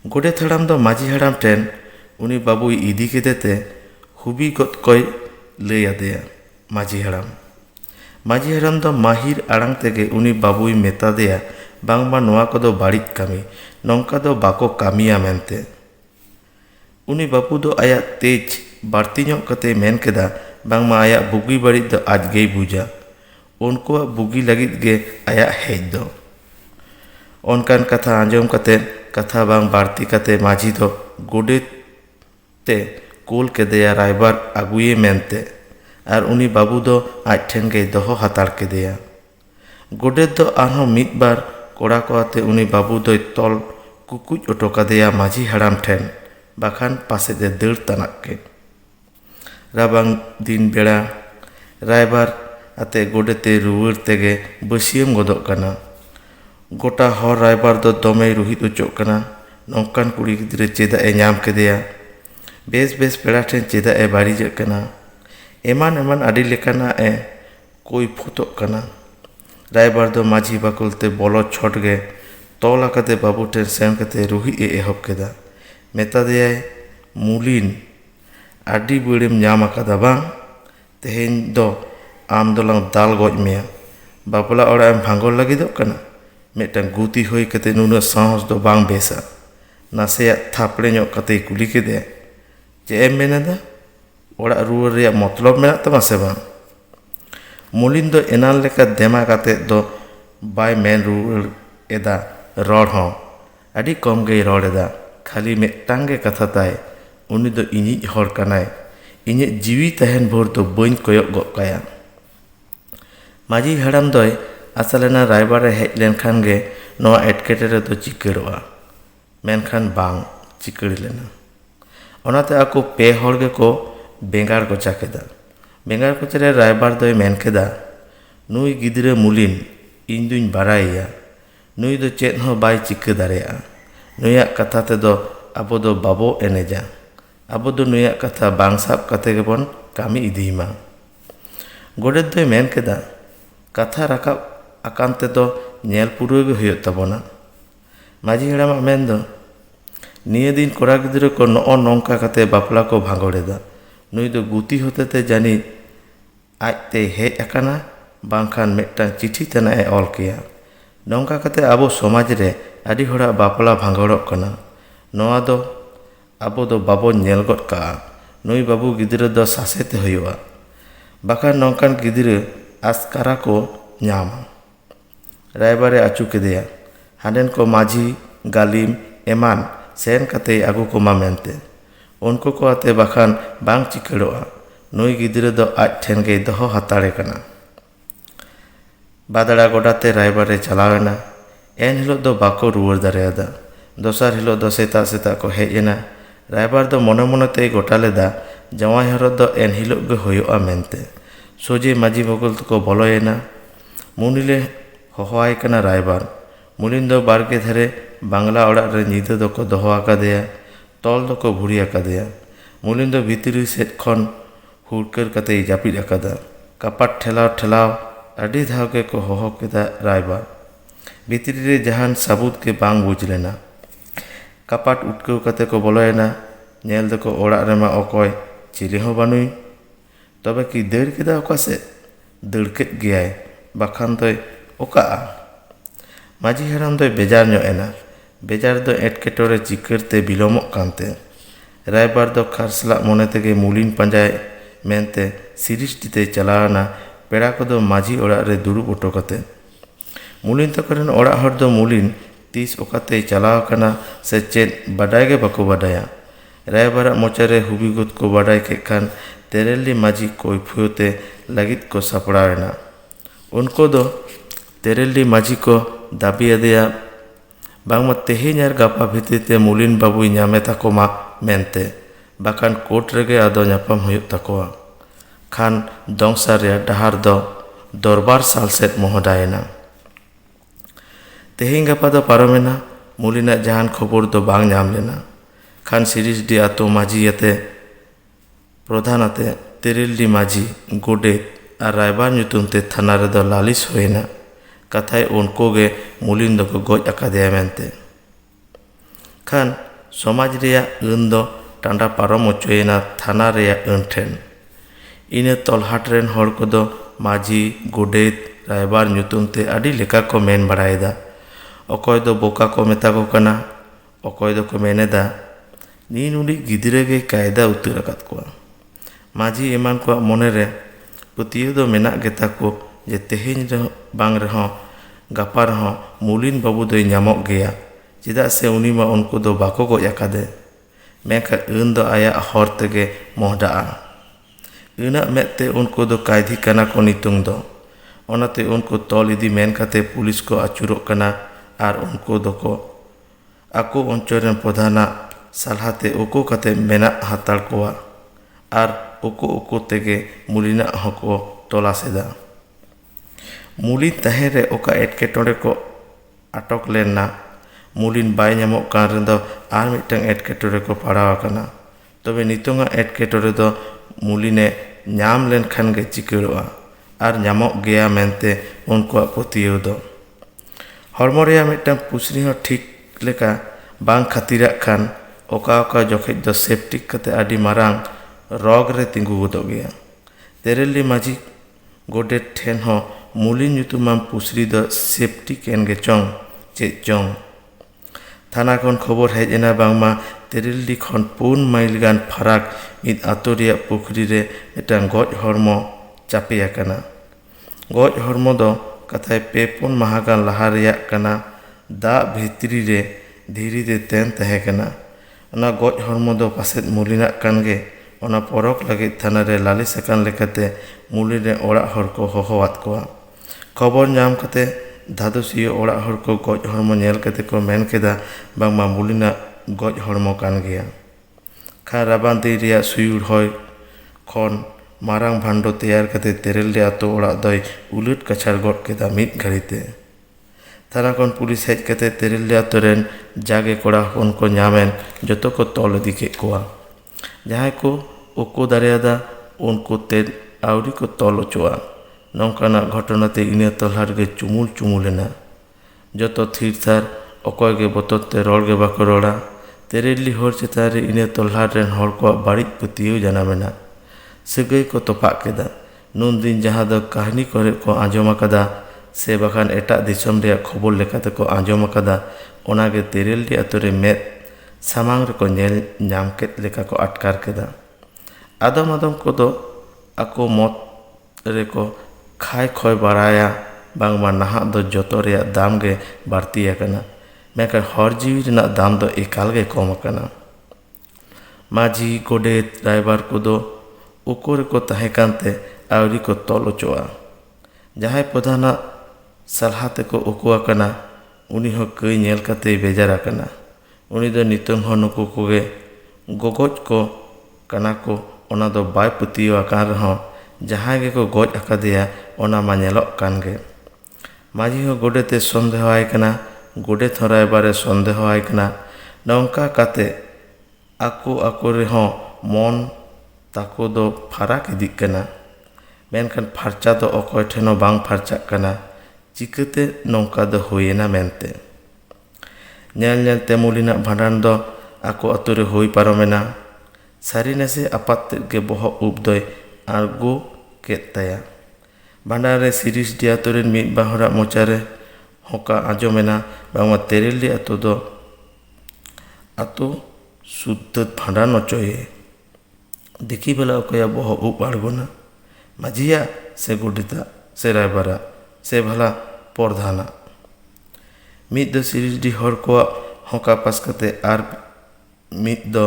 ᱜᱚᱰᱮᱛ ᱦᱟᱲᱟᱢ ᱫᱚ ᱢᱟᱹᱡᱷᱤ ᱦᱟᱲᱟᱢ ᱴᱷᱮᱱ ᱩᱱᱤ ᱵᱟᱹᱵᱩᱭ ᱤᱫᱤ ᱠᱮᱫᱮ ᱛᱮ ᱦᱩᱵᱤ ᱜᱚᱫ ᱠᱚᱭ ᱞᱟᱹᱭ ᱟᱫᱮᱭᱟ ᱢᱟᱹᱡᱷᱤ ᱦᱟᱲᱟᱢ᱾ ᱢᱟᱹᱡᱷᱤ ᱦᱟᱲᱟᱢ ᱫᱚ ᱢᱟᱹᱦᱤᱨ ᱟᱲᱟᱝ ᱛᱮᱜᱮ ᱩᱱᱤ ᱵᱟᱹᱵᱩᱭ ᱢᱮᱛᱟ ᱫᱮᱭᱟ ᱵᱟᱝᱢᱟ ᱱᱚᱣᱟ ᱠᱚᱫᱚ ᱵᱟᱹᱲᱤᱡ ᱠᱟᱹᱢᱤ, ᱱᱚᱝᱠᱟ ᱫᱚ ᱵᱟᱠᱚ ᱠᱟᱹᱢᱤᱭᱟ ᱢᱮᱱᱛᱮ᱾ ᱩᱱᱤ ᱵᱟᱹᱵᱩ ᱫᱚ ᱟᱭᱟᱜ ᱛᱮᱡᱽ ᱵᱟᱹᱲᱛᱤ ᱧᱚᱜ ᱠᱟᱛᱮᱭ ᱢᱮᱱ ᱠᱮᱫᱟ ᱵᱟᱝᱢᱟ ᱟᱭᱟᱜ ᱵᱩᱜᱤ ᱵᱟᱹᱲᱤᱡ ᱫᱚ ᱟᱡ ᱜᱮᱭ ᱵᱩᱡᱟ᱾ ᱩᱱᱠᱩᱣᱟᱜ ᱵᱩᱜᱤ ᱞᱟᱹᱜᱤᱫ ᱜᱮ ᱟᱭᱟᱜ ᱦᱮᱡ ᱫᱚ᱾ ᱚᱱᱠᱟᱱ ᱠᱟᱛᱷᱟ ᱟᱸᱡᱚᱢ ᱠᱟᱛᱮ ᱠᱟᱛᱷᱟ ᱵᱟᱝ ᱵᱟᱹᱲᱛᱤ ᱠᱟᱛᱮ ᱢᱟᱹᱡᱷᱤ ᱫᱚ ᱜᱚᱰᱮᱛ ᱮ ᱠᱩᱞ ᱠᱮᱫᱮᱭᱟ ᱨᱟᱭᱵᱟᱨ ᱟᱹᱜᱩᱭᱮ ᱢᱮᱱᱛᱮ ᱟᱨ ᱩᱱᱤ ᱵᱟᱹᱵᱩ ᱫᱚ ᱟᱡ ᱴᱷᱮᱱ ᱜᱮᱭ ᱫᱚᱦᱚ ᱦᱟᱛᱟᱲ ᱠᱮᱫᱮᱭᱟ᱾ ᱜᱚᱰᱮᱛ ᱫᱚ ᱟᱨᱦᱚᱸ ᱢᱤᱫ ᱵᱟᱨ ᱠᱚᱲᱟ ᱠᱚ ᱟᱛᱮ ᱩᱱᱤ ᱵᱟᱹᱵᱩ ᱫᱚᱭ ᱛᱚᱞ ᱠᱩᱠᱩᱡ ᱚᱴᱚ ᱠᱟᱫᱮᱭᱟ ᱢᱟᱹᱡᱷᱤ ᱦᱟᱲᱟᱢ ᱴᱷᱮᱱ ᱵᱟᱠᱷᱟᱱ ᱯᱟᱥᱮᱫ ᱮ ᱫᱟᱹᱲ ᱛᱟᱱᱟᱜ ᱠᱮᱫ᱾ ᱨᱟᱵᱟᱝ ᱫᱤᱱ ᱵᱮᱲᱟ ᱨᱟᱭᱵᱟᱨ ᱟᱛᱮ ᱜᱚᱰᱮᱛ ᱮ ᱨᱩᱣᱟᱹᱲ ᱛᱮᱜᱮ ᱵᱟᱹᱥᱭᱟᱹᱢ ᱜᱚᱫᱚᱜ ᱠᱟᱱᱟ᱾ ᱜᱚᱴᱟ ᱦᱚᱨ ᱨᱟᱭᱵᱟᱨ ᱫᱚ ᱫᱚᱢᱮᱭ ᱨᱩᱦᱤᱫ ᱚᱪᱚᱜ ᱠᱟᱱᱟ ᱱᱚᱝᱠᱟᱱ ᱠᱩᱲᱤ ᱜᱤᱫᱽᱨᱟᱹ ᱪᱮᱫᱟᱜ ᱮ ᱧᱟᱢ ᱠᱮᱫᱮᱭᱟ? ᱵᱮᱥ ᱵᱮᱥ ᱯᱮᱲᱟ ᱴᱷᱮᱱ ᱪᱮᱫᱟᱜ ᱮ ᱵᱟᱹᱲᱤᱡᱚᱜ ᱠᱟᱱᱟ? ᱮᱢᱟᱱ ᱮᱢᱟᱱ ᱟᱹᱰᱤ ᱞᱮᱠᱟᱱᱟᱜ ᱮ ᱠᱳᱭᱯᱷᱚᱛᱚᱜ ᱠᱟᱱᱟ᱾ ᱨᱟᱭᱵᱟᱨ ᱫᱚ ᱢᱟᱹᱡᱷᱤ ᱵᱟᱠᱷᱳᱞ ᱛᱮ ᱵᱚᱞᱚ ᱪᱷᱚᱴ ᱜᱮ ᱛᱚᱞ ᱟᱠᱟᱫᱮ ᱵᱟᱹᱵᱩ ᱴᱷᱮᱱ ᱥᱮᱱ ᱠᱟᱛᱮ ᱨᱩᱦᱤᱫ ᱮ ᱮᱦᱚᱵ ᱠᱮᱫᱟ᱾ ᱢᱮᱛᱟᱫᱮᱭᱟᱭ ᱢᱩᱞᱤᱱ᱾ ᱟᱹᱰᱤ ᱵᱟᱹᱲᱮᱢ ᱧᱟᱢ ᱟᱠᱟᱫᱟ ᱵᱟᱝ? ᱛᱮᱦᱮᱧ ᱫᱚ ᱟᱢ ᱫᱚᱞᱟᱝ ᱫᱟᱞ ᱜᱚᱡ ᱢᱮᱭᱟ᱾ ᱵᱟᱯᱞᱟ ᱚᱲᱟᱜ ᱮᱢ ᱵᱷᱟᱸᱜᱚᱲ ᱞᱟᱹᱜᱤᱫᱚᱜ ᱠᱟᱱᱟ? ᱢᱤᱫᱴᱟᱹᱝ ᱜᱩᱛᱤ ᱦᱩᱭ ᱠᱟᱛᱮ ᱱᱩᱱᱟᱹᱜ ᱥᱟᱦᱚᱥ ᱫᱚ ᱵᱟᱝ ᱵᱮᱥᱟ᱾ ᱱᱟᱥᱮᱭᱟᱜ ᱛᱷᱟᱯᱲᱮ ᱧᱚᱜ ᱠᱟᱛᱮᱭ ᱠᱩᱞᱤ ᱠᱮᱫᱮᱭᱟ, ᱪᱮᱫ ᱮᱢ ᱢᱮᱱ ᱮᱫᱟ? ᱚᱲᱟᱜ ᱨᱩᱣᱟᱹᱲ ᱨᱮᱭᱟᱜ ᱢᱚᱛᱞᱚᱵᱽ ᱢᱮᱱᱟᱜ ᱛᱟᱢᱟ ᱥᱮ ᱵᱟᱝ? ᱢᱚᱞᱤᱱ ᱫᱚ ᱮᱱᱟᱱ ᱞᱮᱠᱟ ᱫᱮᱢᱟ ᱠᱟᱛᱮ ᱫᱚ ᱵᱟᱭ ᱢᱮᱱ ᱨᱩᱣᱟᱹᱲ ᱮᱫᱟ ᱨᱚᱲ ᱦᱚᱸ᱾ ᱟᱹᱰᱤ ᱠᱚᱢ ᱜᱮᱭ ᱨᱚᱲ ᱮᱫᱟ᱾ ᱠᱷᱟᱹᱞᱤ ᱢᱤᱫᱴᱟᱝ ᱜᱮ ᱠᱟᱛᱷᱟ ᱛᱟᱭ, ᱩᱱᱤ ᱫᱚ ᱤᱧᱤᱡ ᱦᱚᱲ ᱠᱟᱱᱟᱭ᱾ ᱤᱧᱟᱹᱜ ᱡᱤᱣᱤ ᱛᱟᱦᱮᱱ ᱵᱷᱳᱨ ᱫᱚ ᱵᱟᱹᱧ ᱠᱚᱭᱚᱜ ᱜᱚᱫ ᱠᱟᱭᱟ᱾ ᱢᱟᱹᱡᱷᱤ ᱦᱟᱲᱟᱢ ᱫᱚᱭ ᱟᱥᱟ ᱞᱮᱱᱟ ᱨᱟᱭᱵᱟᱨ ᱮ ᱦᱮᱡ ᱞᱮᱱ ᱠᱷᱟᱱ ᱜᱮ ᱱᱚᱶᱟ ᱮᱴᱠᱮᱴᱚᱬᱮ ᱫᱚ ᱪᱤᱠᱟᱹᱲᱚᱜᱼᱟ᱾ ᱢᱮᱱᱠᱷᱟᱱ ᱵᱟᱝ ᱪᱤᱠᱟᱹᱲ ᱞᱮᱱᱟ᱾ ᱚᱱᱟᱛᱮ ᱟᱠᱚ ᱯᱮ ᱦᱚᱲ ᱜᱮ ᱠᱚ ᱵᱮᱸᱜᱟᱲ ᱠᱚᱪᱟ ᱠᱮᱫᱟ᱾ ᱵᱮᱸᱜᱟᱲ ᱠᱚᱪᱟ ᱨᱮ ᱨᱟᱭᱵᱟᱨ ᱫᱚᱭ ᱢᱮᱱ ᱠᱮᱫᱟ, ᱱᱩᱭ ᱜᱤᱫᱽᱨᱟᱹ ᱢᱩᱞᱤᱱ ᱤᱧ ᱫᱩᱧ ᱵᱟᱲᱟᱭᱮᱭᱟ᱾ ᱱᱩᱭ ᱫᱚ ᱪᱮᱫ ᱦᱚᱸ ᱵᱟᱭ ᱪᱤᱠᱟᱹ ᱫᱟᱲᱮᱭᱟᱜᱼᱟ᱾ ᱱᱩᱭᱟᱜ ᱠᱟᱛᱷᱟ ᱛᱮᱫᱚ ᱟᱵᱚ ᱫᱚ ᱵᱟᱵᱚ ᱮᱱᱮᱡᱟ᱾ ᱟᱵᱚ ᱫᱚ ᱱᱩᱭᱟᱜ ᱠᱟᱛᱷᱟ ᱵᱟᱝ ᱥᱟᱵ ᱠᱟᱛᱮ ᱜᱮᱵᱚᱱ ᱠᱟᱹᱢᱤ ᱤᱫᱤᱭ ᱢᱟ᱾ ᱜᱚᱰᱮᱛ ᱫᱚᱭ ᱢᱮᱱ ᱠᱮᱫᱟ, ᱠᱟᱛᱷᱟ ᱨᱟᱠᱟᱵ ᱟᱠᱟᱱ ᱛᱮᱫᱚ ᱧᱮᱞ ᱯᱩᱨᱟᱹᱣ ᱜᱮ ᱦᱩᱭᱩᱜ ᱛᱟᱵᱚᱱᱟ᱾ ᱢᱟᱹᱡᱷᱤ ᱦᱟᱲᱟᱢᱟᱜ ᱢᱮᱱ ᱫᱚ, ᱱᱤᱭᱟᱹ ᱫᱤᱱ ᱠᱚᱲᱟ ᱜᱤᱫᱽᱨᱟᱹ ᱠᱚ ᱱᱚᱜᱼᱚ ᱱᱚᱝᱠᱟ ᱠᱟᱛᱮ ᱵᱟᱯᱞᱟ ᱠᱚ ᱵᱷᱟᱸᱜᱚᱲ ᱮᱫᱟ᱾ ᱱᱩᱭ ᱫᱚ ᱜᱩᱛᱤ ᱦᱚᱛᱮᱛᱮ ᱡᱟᱹᱱᱤᱡ ᱟᱡᱛᱮᱭ ᱦᱮᱡ ᱟᱠᱟᱱᱟ ᱵᱟᱝᱠᱷᱟᱱ ᱢᱤᱫᱴᱟᱝ ᱪᱤᱴᱷᱤ ᱛᱟᱱᱟᱜ ᱮ ᱚᱞ ᱠᱮᱭᱟ᱾ ᱱᱚᱝᱠᱟ ᱠᱟᱛᱮ ᱟᱵᱚ ᱥᱚᱢᱟᱡᱽ ᱨᱮ ᱟᱹᱰᱤ ᱦᱚᱲᱟᱜ ᱵᱟᱯᱞᱟ ᱵᱷᱟᱸᱜᱚᱲᱚᱜ ᱠᱟᱱᱟ᱾ ᱱᱚᱶᱟ ᱫᱚ ᱟᱵᱚ ᱫᱚ ᱵᱟᱵᱚᱱ ᱧᱮᱞ ᱜᱚᱫ ᱠᱟᱜᱼᱟ᱾ ᱱᱩᱭ ᱵᱟᱹᱵᱩ ᱜᱤᱫᱽᱨᱟᱹ ᱫᱚ ᱥᱟᱥᱮᱛᱮ ᱦᱩᱭᱩᱜᱼᱟ᱾ ᱵᱟᱠᱷᱟᱱ ᱱᱚᱝᱠᱟᱱ ᱜᱤᱫᱽᱨᱟᱹ ᱟᱥᱠᱟᱨᱟ ᱠᱚ ᱧᱟᱢᱟ᱾ ᱨᱟᱭᱵᱟᱨᱮ ᱟᱹᱪᱩ ᱠᱮᱫᱮᱭᱟ ᱦᱟᱸᱰᱮᱱ ᱠᱚ ᱢᱟᱹᱡᱷᱤ ᱜᱟᱹᱞᱤᱢ ᱮᱢᱟᱱ ᱥᱮᱱ ᱠᱟᱛᱮᱭ ᱟᱹᱜᱩ ᱠᱚᱢᱟ ᱢᱮᱱᱛᱮ ᱩᱱᱠᱩ ᱠᱚ ᱟᱛᱮ ᱵᱟᱠᱷᱟᱱ ᱵᱟᱝ ᱪᱤᱠᱟᱹᱲᱚᱜᱼᱟ ᱱᱩᱭ ᱜᱤᱫᱽᱨᱟᱹ ᱫᱚ ᱟᱡ ᱴᱷᱮᱱ ᱜᱮᱭ ᱫᱚᱦᱚ ᱦᱟᱛᱟᱲᱮ ᱠᱟᱱᱟ ᱵᱟᱫᱽᱲᱟ ᱜᱚᱰᱟ ᱛᱮ ᱨᱟᱭᱵᱟᱨᱮ ᱪᱟᱞᱟᱣ ᱮᱱᱟ ᱮᱱ ᱦᱤᱞᱳᱜ ᱫᱚ ᱵᱟᱠᱚ ᱨᱩᱣᱟᱹᱲ ᱫᱟᱲᱮᱭᱟᱫᱟ ᱫᱚᱥᱟᱨ ᱦᱤᱞᱳᱜ ᱫᱚ ᱥᱮᱛᱟᱜ ᱥᱮᱛᱟᱜ ᱠᱚ ᱦᱮᱡ ᱮᱱᱟ ᱨᱟᱭᱵᱟᱨ ᱫᱚ ᱢᱚᱱᱮ ᱢᱚᱱᱮ ᱛᱮᱭ ᱜᱚᱴᱟ ᱞᱮᱫᱟ ᱡᱟᱶᱟᱭ ᱦᱚᱨᱚᱜ ᱫᱚ ᱮᱱ ᱦᱤᱞᱳᱜ ᱜᱮ ᱦᱩᱭᱩᱜᱼᱟ ᱢᱮᱱᱛᱮ ᱥᱚᱡᱷᱮ ᱢᱟᱹᱡᱷᱤ ᱵᱟᱠᱷᱳᱞ ᱛᱮᱠᱚ ᱵᱚᱞᱚᱭᱮᱱᱟ ᱢᱩᱱᱤ ᱞᱮ ᱦᱚᱦᱚᱣᱟᱭ ᱠᱟᱱᱟ ᱨᱟᱭᱵᱟᱨ ᱢᱩᱱᱤ ᱫᱚ ᱵᱟᱲᱜᱮ ᱫᱷᱟᱨᱮ ᱵᱟᱝᱞᱟ ᱚᱲᱟᱜ ᱨᱮ ᱧᱤᱫᱟᱹ ᱫᱚᱠᱚ ᱫᱚᱦᱚ ᱟᱠᱟᱫᱮᱭᱟ ᱛᱚᱞ ᱫᱚᱠᱚ ᱵᱷᱩᱲᱤ ᱟᱠᱟᱫᱮᱭᱟ ᱢᱩᱱᱤ ᱫᱚ ᱵᱷᱤᱛᱨᱤ ᱥᱮᱫ ᱠᱷᱚᱱ ᱦᱩᱨᱠᱟᱹ ᱠᱟᱛᱮᱭ ᱡᱟᱹᱯᱤᱫ ᱟᱠᱟᱫᱟ ᱠᱟᱯᱟᱴ ᱴᱷᱮᱞᱟᱣ ᱴᱷᱮᱞᱟᱣ ᱟᱹᱰᱤ ᱫᱷᱟᱣ ᱜᱮᱠᱚ ᱦᱚᱦᱚ ᱠᱮᱫᱟ ᱨᱟᱭᱵᱟᱨ ᱵᱷᱤᱛᱨᱤ ᱨᱮ ᱡᱟᱦᱟᱱ ᱥᱟᱹᱵᱩᱫ ᱜᱮ ᱵᱟᱝ ᱵᱩᱡᱽ ᱞᱮᱱᱟ ᱠᱟᱯᱟᱴ ᱩᱴᱠᱟᱹᱣ ᱠᱟᱛᱮ ᱠᱚ ᱵᱚᱞᱚᱭᱮᱱᱟ ᱧᱮᱞ ᱫᱟᱠᱚ ᱚᱲᱟᱜ ᱨᱮᱢᱟ ᱚᱠᱚᱭ ᱪᱤᱞᱤ ᱦᱚᱸ ᱵᱟᱹᱱᱩᱭ ᱛᱚᱵᱮ ᱠᱤ ᱫᱟᱹᱲ ᱠᱮᱫᱟ ᱚᱠᱟ ᱥᱮᱫ? ᱫᱟᱹᱲ ᱠᱮᱫ ᱜᱮᱭᱟᱭ ᱵᱟᱠᱷᱟᱱ ᱫᱚᱭ ᱚᱠᱟᱜᱼᱟ? ᱢᱟᱹᱡᱷᱤ ᱦᱟᱲᱟᱢ ᱫᱚᱭ ᱵᱮᱡᱟᱨ ᱧᱚᱜ ᱮᱱᱟ᱾ ᱵᱮᱡᱟᱨ ᱫᱚ ᱮᱴᱠᱮᱴᱚᱬᱮ ᱪᱤᱠᱟᱹᱲ ᱛᱮ ᱵᱤᱞᱚᱢᱚᱜ ᱠᱟᱱᱛᱮ᱾ ᱨᱟᱭᱵᱟᱨ ᱫᱚ ᱠᱷᱟᱨᱥᱞᱟᱜ ᱢᱚᱱᱮ ᱛᱮᱜᱮ ᱢᱩᱞᱤᱱ ᱯᱟᱸᱡᱟᱭ ᱢᱮᱱᱛᱮ ᱥᱤᱨᱤᱥᱴᱤ ᱛᱮᱭ ᱪᱟᱞᱟᱣ ᱮᱱᱟ ᱯᱮᱲᱟ ᱠᱚᱫᱚ ᱢᱟᱹᱡᱷᱤ ᱚᱲᱟᱜ ᱨᱮ ᱫᱩᱲᱩᱵ ᱚᱴᱚ ᱠᱟᱛᱮ᱾ ᱢᱩᱞᱤᱱ ᱛᱟᱠᱚ ᱨᱮᱱ ᱚᱲᱟᱜ ᱦᱚᱲ ᱫᱚ ᱢᱩᱞᱤᱱ ᱛᱤᱥ ᱚᱠᱟ ᱛᱮᱭ ᱪᱟᱞᱟᱣ ᱟᱠᱟᱱᱟ ᱥᱮ ᱪᱮᱫ ᱵᱟᱰᱟᱭ ᱜᱮ ᱵᱟᱠᱚ ᱵᱟᱰᱟᱭᱟ᱾ ᱨᱟᱭᱵᱟᱨᱟᱜ ᱢᱚᱪᱟ ᱨᱮ ᱦᱩᱵᱤ ᱜᱚᱫ ᱠᱚ ᱵᱟᱰᱟᱭ ᱠᱮᱫ ᱠᱷᱟᱱ ᱛᱮᱨᱮᱞᱰᱤ ᱢᱟᱹᱡᱷᱤ ᱠᱚᱭᱯᱷᱚᱭᱚ ᱛᱮ ᱞᱟᱹᱜᱤᱫ ᱠᱚ ᱥᱟᱯᱲᱟᱣ ᱮᱱᱟ᱾ ᱩᱱᱠᱚ ᱫᱚ ᱛᱮᱨᱮᱞᱰᱤ ᱢᱟᱹᱡᱷᱤ ᱠᱚ ᱫᱟᱹᱵᱤ ᱟᱫᱮᱭᱟ᱾ ᱵᱟᱝᱢᱟ ᱛᱮᱦᱮᱧ ᱟᱨ ᱜᱟᱯᱟ ᱵᱷᱤᱛᱤᱨ ᱛᱮ ᱢᱩᱞᱤᱱ ᱵᱟᱹᱵᱩᱭ ᱧᱟᱢᱮ ᱛᱟᱠᱚ ᱢᱟ ᱢᱮᱱᱛᱮ ᱵᱟᱠᱷᱟᱱ ᱠᱳᱨᱴ ᱨᱮᱜᱮ ᱟᱫᱚ ᱧᱟᱯᱟᱢ ᱦᱩᱭᱩᱜ ᱛᱟᱠᱚᱣᱟ᱾ ᱠᱷᱟᱱ ᱫᱚᱝᱥᱟᱨ ᱨᱮᱭᱟᱜ ᱰᱟᱦᱟᱨ ᱫᱚ ᱫᱚᱨᱵᱟᱨ ᱥᱟᱞ ᱥᱮᱫ ᱢᱚᱦᱰᱟ ᱮᱱᱟ᱾ ᱛᱮᱦᱮᱧ ᱜᱟᱯᱟ ᱫᱚ ᱯᱟᱨᱚᱢ ᱮᱱᱟ, ᱢᱩᱞᱤᱱᱟᱜ ᱡᱟᱦᱟᱱ ᱠᱷᱚᱵᱚᱨ ᱫᱚ ᱵᱟᱝ ᱧᱟᱢ ᱞᱮᱱᱟ᱾ ᱠᱷᱟᱱ ᱥᱤᱨᱤᱥᱰᱤ ᱟᱹᱛᱩ ᱢᱟᱹᱡᱷᱤ ᱭᱟᱛᱮ᱾ ᱯᱨᱚᱫᱷᱟᱱ ᱟᱛᱮ ᱛᱤᱨᱤᱞᱰᱤ ᱢᱟᱹᱡᱷᱤ, ᱜᱚᱰᱮᱛ ᱟᱨ ᱨᱟᱭᱵᱟᱨ ᱧᱩᱛᱩᱢ ᱛᱮ ᱛᱷᱟᱱᱟ ᱨᱮ ᱫᱚ ᱞᱟᱹᱞᱤᱥ ᱦᱩᱭ ᱮᱱᱟ᱾ ᱠᱟᱛᱷᱟᱭ ᱩᱱᱠᱩ ᱜᱮ ᱢᱩᱞᱤᱱ ᱫᱚ ᱠᱚ ᱜᱚᱡ ᱟᱠᱟᱫᱮᱭᱟ ᱢᱮᱱᱛᱮ᱾ ᱠᱷᱟᱱ ᱥᱚᱢᱟᱡᱽ ᱨᱮᱭᱟᱜ ᱟᱹᱱ ᱫᱚ ᱴᱟᱸᱰᱟ ᱯᱟᱨᱚᱢ ᱚᱪᱚᱭ ᱮᱱᱟ ᱛᱷᱟᱱᱟ ᱨᱮᱭᱟᱜ ᱟᱹᱱ ᱴᱷᱮᱱ᱾ ᱤᱱᱟᱹ ᱛᱚᱞᱦᱟᱴ ᱨᱮᱱ ᱦᱚᱲ ᱠᱚ ᱫᱚ ᱢᱟᱹᱡᱷᱤ, ᱜᱚᱰᱮᱛ, ᱨᱟᱭᱵᱟᱨ ᱧᱩᱛᱩᱢ ᱛᱮ ᱟᱹᱰᱤ ᱞᱮᱠᱟ ᱠᱚ ᱢᱮᱱ ᱵᱟᱲᱟᱭᱮᱫᱟ᱾ ᱚᱠᱚᱭ ᱫᱚ ᱵᱚᱠᱟ ᱠᱚ ᱢᱮᱛᱟ ᱠᱚ ᱠᱟᱱᱟ᱾ ᱚᱠᱚᱭ ᱫᱚᱠᱚ ᱢᱮᱱ ᱮᱫᱟ ᱱᱤ ᱱᱩᱱᱤᱡ ᱜᱤᱫᱽᱨᱟᱹ ᱜᱮ ᱠᱟᱭᱫᱟ ᱩᱛᱟᱹᱨ ᱟᱠᱟᱫ ᱠᱚᱣᱟ ᱢᱟᱹᱡᱷᱤ ᱮᱢᱟᱱ ᱠᱚᱣᱟᱜ ᱢᱚᱱᱮ ᱨᱮ ᱯᱟᱹᱛᱭᱟᱹᱣ ᱫᱚ ᱢᱮᱱᱟᱜ ᱜᱮᱛᱟ ᱠᱚ ᱡᱮ ᱛᱮᱦᱮᱧ ᱨᱮᱦᱚᱸ ᱵᱟᱝ ᱨᱮᱦᱚᱸ ᱜᱟᱯᱟ ᱨᱮᱦᱚᱸ ᱢᱩᱞᱤᱱ ᱵᱟᱹᱵᱩ ᱫᱚᱭ ᱧᱟᱢᱚᱜ ᱜᱮᱭᱟ ᱪᱮᱫᱟᱜ ᱥᱮ ᱩᱱᱤ ᱢᱟ ᱩᱱᱠᱩ ᱫᱚ ᱵᱟᱠᱚ ᱜᱚᱡ ᱟᱠᱟᱫᱮ ᱢᱮᱱᱠᱷᱟᱱ ᱟᱹᱱ ᱫᱚ ᱟᱭᱟᱜ ᱦᱚᱨ ᱛᱮᱜᱮ ᱢᱚᱦᱰᱟᱜᱼᱟ ᱟᱹᱱᱟᱜ ᱢᱮᱫ ᱛᱮ ᱩᱱᱠᱩ ᱫᱚ ᱠᱟᱭᱫᱷᱤ ᱠᱟᱱᱟ ᱠᱚ ᱱᱤᱛᱚᱝ ᱫᱚ ᱚᱱᱟᱛᱮ ᱩᱱᱠᱩ ᱛᱚᱞ ᱤᱫᱤ ᱢᱮᱱ ᱠᱟᱛᱮᱫ ᱯᱩᱞᱤᱥ ᱠᱚ ᱟᱹᱪᱩᱨᱚᱜ ᱠᱟᱱᱟ ᱟᱨ ᱩᱱᱠᱩ ᱫᱚᱠᱚ ᱟᱠᱚ ᱚᱧᱪᱚᱞ ᱨᱮᱱ ᱯᱨᱚᱫᱷᱟᱱ ᱟᱜ ᱥᱟᱞᱦᱟ ᱛᱮ ᱩᱠᱩ ᱠᱟᱛᱮ ᱢᱮᱱᱟᱜ ᱦᱟᱛᱟᱲ ᱠᱚᱣᱟ ᱟᱨ ᱩᱠᱩ ᱩᱠᱩ ᱛᱮᱜᱮ ᱢᱩᱞᱤᱱᱟᱜ ᱦᱚᱸ ᱠᱚ ᱛᱚᱞᱟᱥ ᱮᱫᱟ᱾ ᱢᱩᱞᱤᱱ ᱛᱟᱦᱮᱸᱱ ᱨᱮ ᱚᱠᱟ ᱮᱴᱠᱮᱴᱚᱬᱮ ᱠᱚ ᱟᱴᱚᱠ ᱞᱮᱱᱟ? ᱢᱩᱞᱤᱱ ᱵᱟᱭ ᱧᱟᱢᱚᱜ ᱠᱟᱱ ᱨᱮᱫᱚ ᱟᱨ ᱢᱤᱫᱴᱟᱹᱝ ᱮᱴᱠᱮᱴᱚᱬᱮ ᱠᱚ ᱯᱟᱲᱟᱣ ᱟᱠᱟᱱᱟ᱾ ᱛᱚᱵᱮ ᱱᱤᱛᱚᱝᱟᱜ ᱮᱴᱠᱮᱴᱚᱬᱮ ᱫᱚ ᱢᱩᱞᱤᱱᱮ ᱧᱟᱢ ᱞᱮᱱᱠᱷᱟᱱ ᱜᱮ ᱪᱤᱠᱟᱹᱲᱚᱜᱼᱟ ᱟᱨ ᱧᱟᱢᱚᱜ ᱜᱮᱭᱟ ᱢᱮᱱᱛᱮ ᱩᱱᱠᱩᱣᱟᱜ ᱯᱟᱹᱛᱭᱟᱹᱣ ᱫᱚ᱾ ᱦᱚᱲᱢᱚ ᱨᱮᱭᱟᱜ ᱢᱤᱫᱴᱟᱹᱝ ᱯᱩᱪᱷᱨᱤ ᱦᱚᱸ ᱴᱷᱤᱠ ᱞᱮᱠᱟ ᱵᱟᱝ ᱠᱷᱟᱹᱛᱤᱨᱟᱜ ᱠᱷᱟᱱ ᱚᱠᱟ ᱚᱠᱟ ᱡᱚᱠᱷᱮᱡ ᱫᱚ ᱥᱮᱯᱴᱤᱠ ᱠᱟᱛᱮ ᱟᱹᱰᱤ ᱢᱟᱨᱟᱝ ᱨᱚᱜᱽ ᱨᱮ ᱛᱤᱸᱜᱩ ᱜᱚᱫᱚᱜ ᱜᱮᱭᱟ᱾ ᱛᱮᱨᱮᱞᱰᱤ ᱢᱟᱹᱡᱷᱤ ᱜᱚᱰᱮᱛ ᱴᱷᱮᱱ ᱦᱚᱸ ᱢᱩᱞᱤᱱ ᱧᱩᱛᱩᱢᱟᱱ ᱯᱩᱪᱷᱨᱤ ᱫᱚ ᱥᱮᱯᱴᱤᱠ ᱮᱱ ᱜᱮᱪᱚᱝ ᱪᱮᱫ ᱪᱚᱝ ᱛᱷᱟᱱᱟ ᱠᱷᱚᱱ ᱠᱷᱚᱵᱚᱨ ᱦᱮᱡ ᱮᱱᱟ ᱵᱟᱝᱢᱟ ᱛᱮᱨᱮᱞᱰᱤ ᱠᱷᱚᱱ ᱯᱩᱱ ᱢᱟᱭᱤᱞ ᱜᱟᱱ ᱯᱷᱟᱨᱟᱠ ᱢᱤᱫ ᱟᱹᱛᱩ ᱨᱮᱭᱟᱜ ᱯᱩᱠᱷᱨᱤ ᱨᱮ ᱢᱤᱫᱴᱟᱝ ᱜᱚᱡ ᱦᱚᱲᱢᱚ ᱪᱟᱯᱮ ᱟᱠᱟᱱᱟ ᱜᱚᱡ ᱦᱚᱲᱢᱚ ᱫᱚ ᱠᱟᱛᱷᱟᱡ ᱯᱮ ᱯᱩᱱ ᱢᱟᱦᱟ ᱜᱟᱱ ᱞᱟᱦᱟ ᱨᱮᱭᱟᱜ ᱠᱟᱱᱟ ᱫᱟᱜ ᱵᱷᱤᱛᱨᱤ ᱨᱮ ᱫᱷᱤᱨᱤ ᱛᱮ ᱛᱮᱱ ᱛᱟᱦᱮᱸ ᱠᱟᱱᱟ ᱚᱱᱟ ᱜᱚᱡ ᱦᱚᱲᱢᱚ ᱫᱚ ᱯᱟᱥᱮᱡ ᱢᱩᱞᱤᱱᱟᱜ ᱠᱟᱱ ᱜᱮ ᱚᱱᱟ ᱯᱚᱨᱚᱠᱷ ᱞᱟᱹᱜᱤᱫ ᱛᱷᱟᱱᱟ ᱨᱮ ᱞᱟᱹᱞᱤᱥ ᱟᱠᱟᱱ ᱞᱮᱠᱟᱛᱮ ᱢᱩᱞᱤᱱ ᱨᱮᱱ ᱚᱲᱟᱜ ᱦᱚᱲ ᱠᱚ ᱦᱚᱦᱚᱣᱟᱫ ᱠᱚᱣᱟ ᱠᱷᱚᱵᱚᱨ ᱧᱟᱢ ᱠᱟᱛᱮ ᱫᱷᱟᱫᱚᱥᱤᱭᱟᱹ ᱚᱲᱟᱜ ᱦᱚᱲ ᱠᱚ ᱜᱚᱡ ᱦᱚᱲᱢᱚ ᱧᱮᱞ ᱠᱟᱛᱮ ᱠᱚ ᱢᱮᱱ ᱠᱮᱫᱟ ᱵᱟᱝᱢᱟ ᱢᱩᱞᱤᱱᱟᱜ ᱜᱚᱡ ᱦᱚᱲᱢᱚ ᱠᱟᱱ ᱜᱮᱭᱟ ᱠᱷᱟᱱ ᱨᱟᱵᱟᱝ ᱫᱤᱱ ᱨᱮᱭᱟᱜ ᱥᱩᱭᱩᱲ ᱦᱚᱭ ᱠᱷᱚᱱ ᱢᱟᱨᱟᱝ ᱵᱷᱟᱱᱰᱚ ᱛᱮᱭᱟᱨ ᱠᱟᱛᱮ ᱛᱮᱨᱮᱞᱰᱤ ᱟᱛᱳ ᱚᱲᱟᱜ ᱫᱚᱭ ᱩᱞᱟᱹᱴ ᱠᱟᱪᱷᱟᱲ ᱜᱚᱫ ᱠᱮᱫᱟ ᱢᱤᱫ ᱜᱷᱟᱹᱲᱤ ᱛᱮ ᱛᱷᱟᱱᱟ ᱠᱷᱚᱱ ᱯᱩᱞᱤᱥ ᱦᱮᱡ ᱠᱟᱛᱮ ᱛᱮᱨᱮᱞᱰᱤ ᱟᱛᱳ ᱨᱮᱱ ᱡᱟᱜᱮ ᱠᱚᱲᱟ ᱦᱚᱯᱚᱱ ᱠᱚ ᱧᱟᱢᱮᱱ ᱡᱚᱛᱚ ᱠᱚ ᱛᱚᱞ ᱤᱫᱤ ᱠᱮᱫ ᱠᱚᱣᱟ ᱡᱟᱦᱟᱸᱭ ᱠᱚ ᱩᱠᱩ ᱫᱟᱲᱮᱭᱟᱫᱟ ᱩᱱᱠᱩ ᱛᱮᱫ ᱟᱹᱣᱨᱤ ᱠᱚ ᱛᱚᱞ ᱚᱪᱚᱜᱼᱟ ᱱᱚᱝᱠᱟᱱᱟᱜ ᱜᱷᱚᱴᱚᱱᱟ ᱛᱮ ᱤᱱᱟᱹ ᱴᱚᱞᱟ ᱨᱮᱜᱮ ᱛᱩᱢᱩᱞ ᱛᱩᱢᱩᱞ ᱮᱱᱟ ᱡᱚᱛᱚ ᱛᱷᱤᱨ ᱛᱷᱟᱨ ᱚᱠᱚᱭ ᱜᱮ ᱵᱚᱛᱚᱨ ᱛᱮ ᱨᱚᱲ ᱜᱮ ᱵᱟᱠᱚ ᱨᱚᱲᱟ ᱛᱮᱨᱮᱞᱤ ᱦᱚᱲ ᱪᱮᱛᱟᱱ ᱨᱮ ᱤᱱᱟᱹ ᱴᱚᱞᱟ ᱨᱮᱱ ᱦᱚᱲ ᱠᱚᱣᱟᱜ ᱵᱟᱹᱲᱤᱡ ᱯᱟᱹᱛᱭᱟᱹᱣ ᱡᱟᱱᱟᱢ ᱮᱱᱟ ᱥᱟᱹᱜᱟᱹᱭ ᱠᱚ ᱛᱚᱯᱟᱜ ᱠᱮᱫᱟ ᱱᱩᱱ ᱫᱤᱱ ᱡᱟᱦᱟᱸ ᱫᱚ ᱠᱟᱹᱦᱱᱤ ᱠᱚᱨᱮ ᱠᱚ ᱟᱸᱡᱚᱢ ᱟᱠᱟᱫᱟ ᱥᱮ ᱵᱟᱠᱷᱟᱱ ᱮᱴᱟᱜ ᱫᱤᱥᱚᱢ ᱨᱮᱭᱟᱜ ᱠᱷᱚᱵᱚᱨ ᱞᱮᱠᱟᱛᱮ ᱠᱚ ᱟᱸᱡᱚᱢ ᱟᱠᱟᱫᱟ ᱚᱱᱟ ᱜᱮ ᱛᱮᱨᱮᱞᱰᱤ ᱟᱹᱛᱩ ᱨᱮ ᱢᱮᱫ ᱥᱟᱢᱟᱝ ᱨᱮᱠᱚ ᱧᱮᱞ ᱧᱟᱢ ᱠᱮᱫ ᱞᱮᱠᱟ ᱠᱚ ᱟᱴᱠᱟᱨ ᱠᱮᱫᱟ᱾ ᱟᱫᱚᱢ ᱟᱫᱚᱢ ᱠᱚᱫᱚ ᱟᱠᱚ ᱢᱚᱛ ᱨᱮ ᱠᱚ ᱠᱷᱟᱭ ᱠᱷᱚᱭ ᱵᱟᱲᱟᱭᱟ ᱵᱟᱝᱢᱟ ᱱᱟᱦᱟᱜ ᱫᱚ ᱡᱚᱛᱚ ᱨᱮᱭᱟᱜ ᱫᱟᱢ ᱜᱮ ᱵᱟᱹᱲᱛᱤ ᱟᱠᱟᱱᱟ ᱢᱮᱱᱠᱷᱟᱱ ᱦᱚᱲ ᱡᱤᱣᱤ ᱨᱮᱱᱟᱜ ᱫᱟᱢ ᱫᱚ ᱮᱠᱟᱞ ᱜᱮ ᱠᱚᱢ ᱟᱠᱟᱱᱟ᱾ ᱢᱟᱹᱡᱷᱤ ᱜᱚᱰᱮᱛ ᱨᱟᱭᱵᱟᱨ ᱠᱚᱫᱚ ᱳᱠᱳ ᱨᱮᱠᱚ ᱛᱟᱦᱮᱸ ᱠᱟᱱ ᱛᱮ ᱟᱹᱣᱨᱤ ᱠᱚ ᱛᱚᱞ ᱚᱪᱚᱜᱼᱟ᱾ ᱡᱟᱦᱟᱸᱭ ᱯᱨᱚᱫᱷᱟᱱ ᱟᱜ ᱥᱟᱞᱦᱟ ᱛᱮᱠᱚ ᱳᱠᱳ ᱟᱠᱟᱱᱟ ᱩᱱᱤ ᱦᱚᱸ ᱠᱟᱹᱭ ᱧᱮᱞ ᱠᱟᱛᱮᱭ ᱵᱮᱡᱟᱨ ᱟᱠᱟᱱᱟ᱾ ᱩᱱᱤ ᱫᱚ ᱱᱤᱛᱚᱝ ᱦᱚᱸ ᱱᱩᱠᱩ ᱠᱚᱜᱮ ᱜᱚᱜᱚᱡ ᱠᱚ ᱠᱟᱱᱟ ᱠᱚ ᱚᱱᱟ ᱫᱚ ᱵᱟᱭ ᱯᱟᱹᱛᱭᱟᱹᱣ ᱟᱠᱟᱱ ᱨᱮᱦᱚᱸ ᱡᱟᱦᱟᱸᱭ ᱜᱮᱠᱚ ᱜᱚᱡ ᱟᱠᱟᱫᱮᱭᱟ ᱚᱱᱟ ᱢᱟ ᱧᱮᱞᱚᱜ ᱠᱟᱱ ᱜᱮ᱾ ᱢᱟᱹᱡᱷᱤ ᱦᱚᱸ ᱜᱚᱰᱮᱛ ᱮ ᱥᱚᱱᱫᱮᱦᱚ ᱟᱭ ᱠᱟᱱᱟ, ᱜᱚᱰᱮᱛ ᱦᱚᱸ ᱨᱟᱭᱵᱟᱨ ᱮ ᱥᱚᱱᱫᱮᱦᱚ ᱟᱭ ᱠᱟᱱᱟ᱾ ᱱᱚᱝᱠᱟ ᱠᱟᱛᱮ ᱟᱠᱚ ᱟᱠᱚ ᱨᱮᱦᱚᱸ ᱢᱚᱱ ᱛᱟᱠᱚ ᱫᱚ ᱯᱷᱟᱨᱟᱠ ᱤᱫᱤᱜ ᱠᱟᱱᱟ᱾ ᱢᱮᱱᱠᱷᱟᱱ ᱯᱷᱟᱨᱪᱟ ᱫᱚ ᱚᱠᱚᱭ ᱴᱷᱮᱱ ᱦᱚᱸ ᱵᱟᱝ ᱯᱷᱟᱨᱪᱟᱜ ᱠᱟᱱᱟ ᱪᱤᱠᱟᱹᱛᱮ ᱱᱚᱝᱠᱟ ᱫᱚ ᱦᱩᱭ ᱮᱱᱟ ᱢᱮᱱᱛᱮ᱾ ᱧᱮᱞ ᱧᱮᱞ ᱛᱮ ᱢᱩᱞᱤᱱᱟᱜ ᱵᱷᱟᱸᱰᱟᱱ ᱫᱚ ᱟᱠᱚ ᱟᱹᱛᱩ ᱨᱮ ᱦᱩᱭ ᱯᱟᱨᱚᱢ ᱮᱱᱟ᱾ ᱥᱟᱹᱨᱤ ᱱᱟᱥᱮ ᱟᱯᱟᱛ ᱛᱮᱫ ᱜᱮ ᱵᱚᱦᱚᱜ ᱩᱵ ᱫᱚᱭ ᱟᱬᱜᱚ ᱠᱮᱫ ᱛᱟᱭᱟ᱾ ᱵᱷᱟᱸᱰᱟᱱ ᱨᱮ ᱥᱤᱨᱤᱥᱰᱤ ᱟᱹᱛᱩ ᱨᱤᱱ ᱢᱤᱫ ᱵᱟᱨ ᱦᱚᱲᱟᱜ ᱢᱚᱪᱟ ᱨᱮ ᱦᱚᱸᱠᱟ ᱟᱸᱡᱚᱢ ᱮᱱᱟ ᱵᱟᱝᱢᱟ ᱛᱮᱨᱮᱞᱰᱤ ᱟᱹᱛᱩ ᱫᱚ ᱟᱹᱛᱩ ᱥᱩᱫᱽᱫᱟᱹᱛ ᱵᱷᱟᱸᱰᱟᱱ ᱚᱪᱚᱭᱮ᱾ ᱫᱮᱠᱷᱤ ᱵᱷᱟᱞᱟ ᱚᱠᱚᱭᱟᱜ ᱵᱚᱦᱚᱜ ᱩᱵ ᱟᱬᱜᱚᱱᱟ, ᱢᱟᱹᱡᱷᱤᱭᱟᱜ ᱥᱮ ᱜᱚᱰᱮᱛᱟᱜ ᱥᱮ ᱨᱟᱭᱵᱟᱨᱟᱜ ᱥᱮ ᱵᱷᱟᱞᱟ ᱯᱚᱨᱫᱷᱟᱱᱟᱜ᱾ ᱢᱤᱫ ᱫᱚ ᱥᱤᱨᱤᱥᱰᱤ ᱦᱚᱲ ᱠᱚᱣᱟᱜ ᱦᱚᱸᱠᱟ ᱯᱟᱥ ᱠᱟᱛᱮ ᱟᱨ ᱢᱤᱫ ᱫᱚ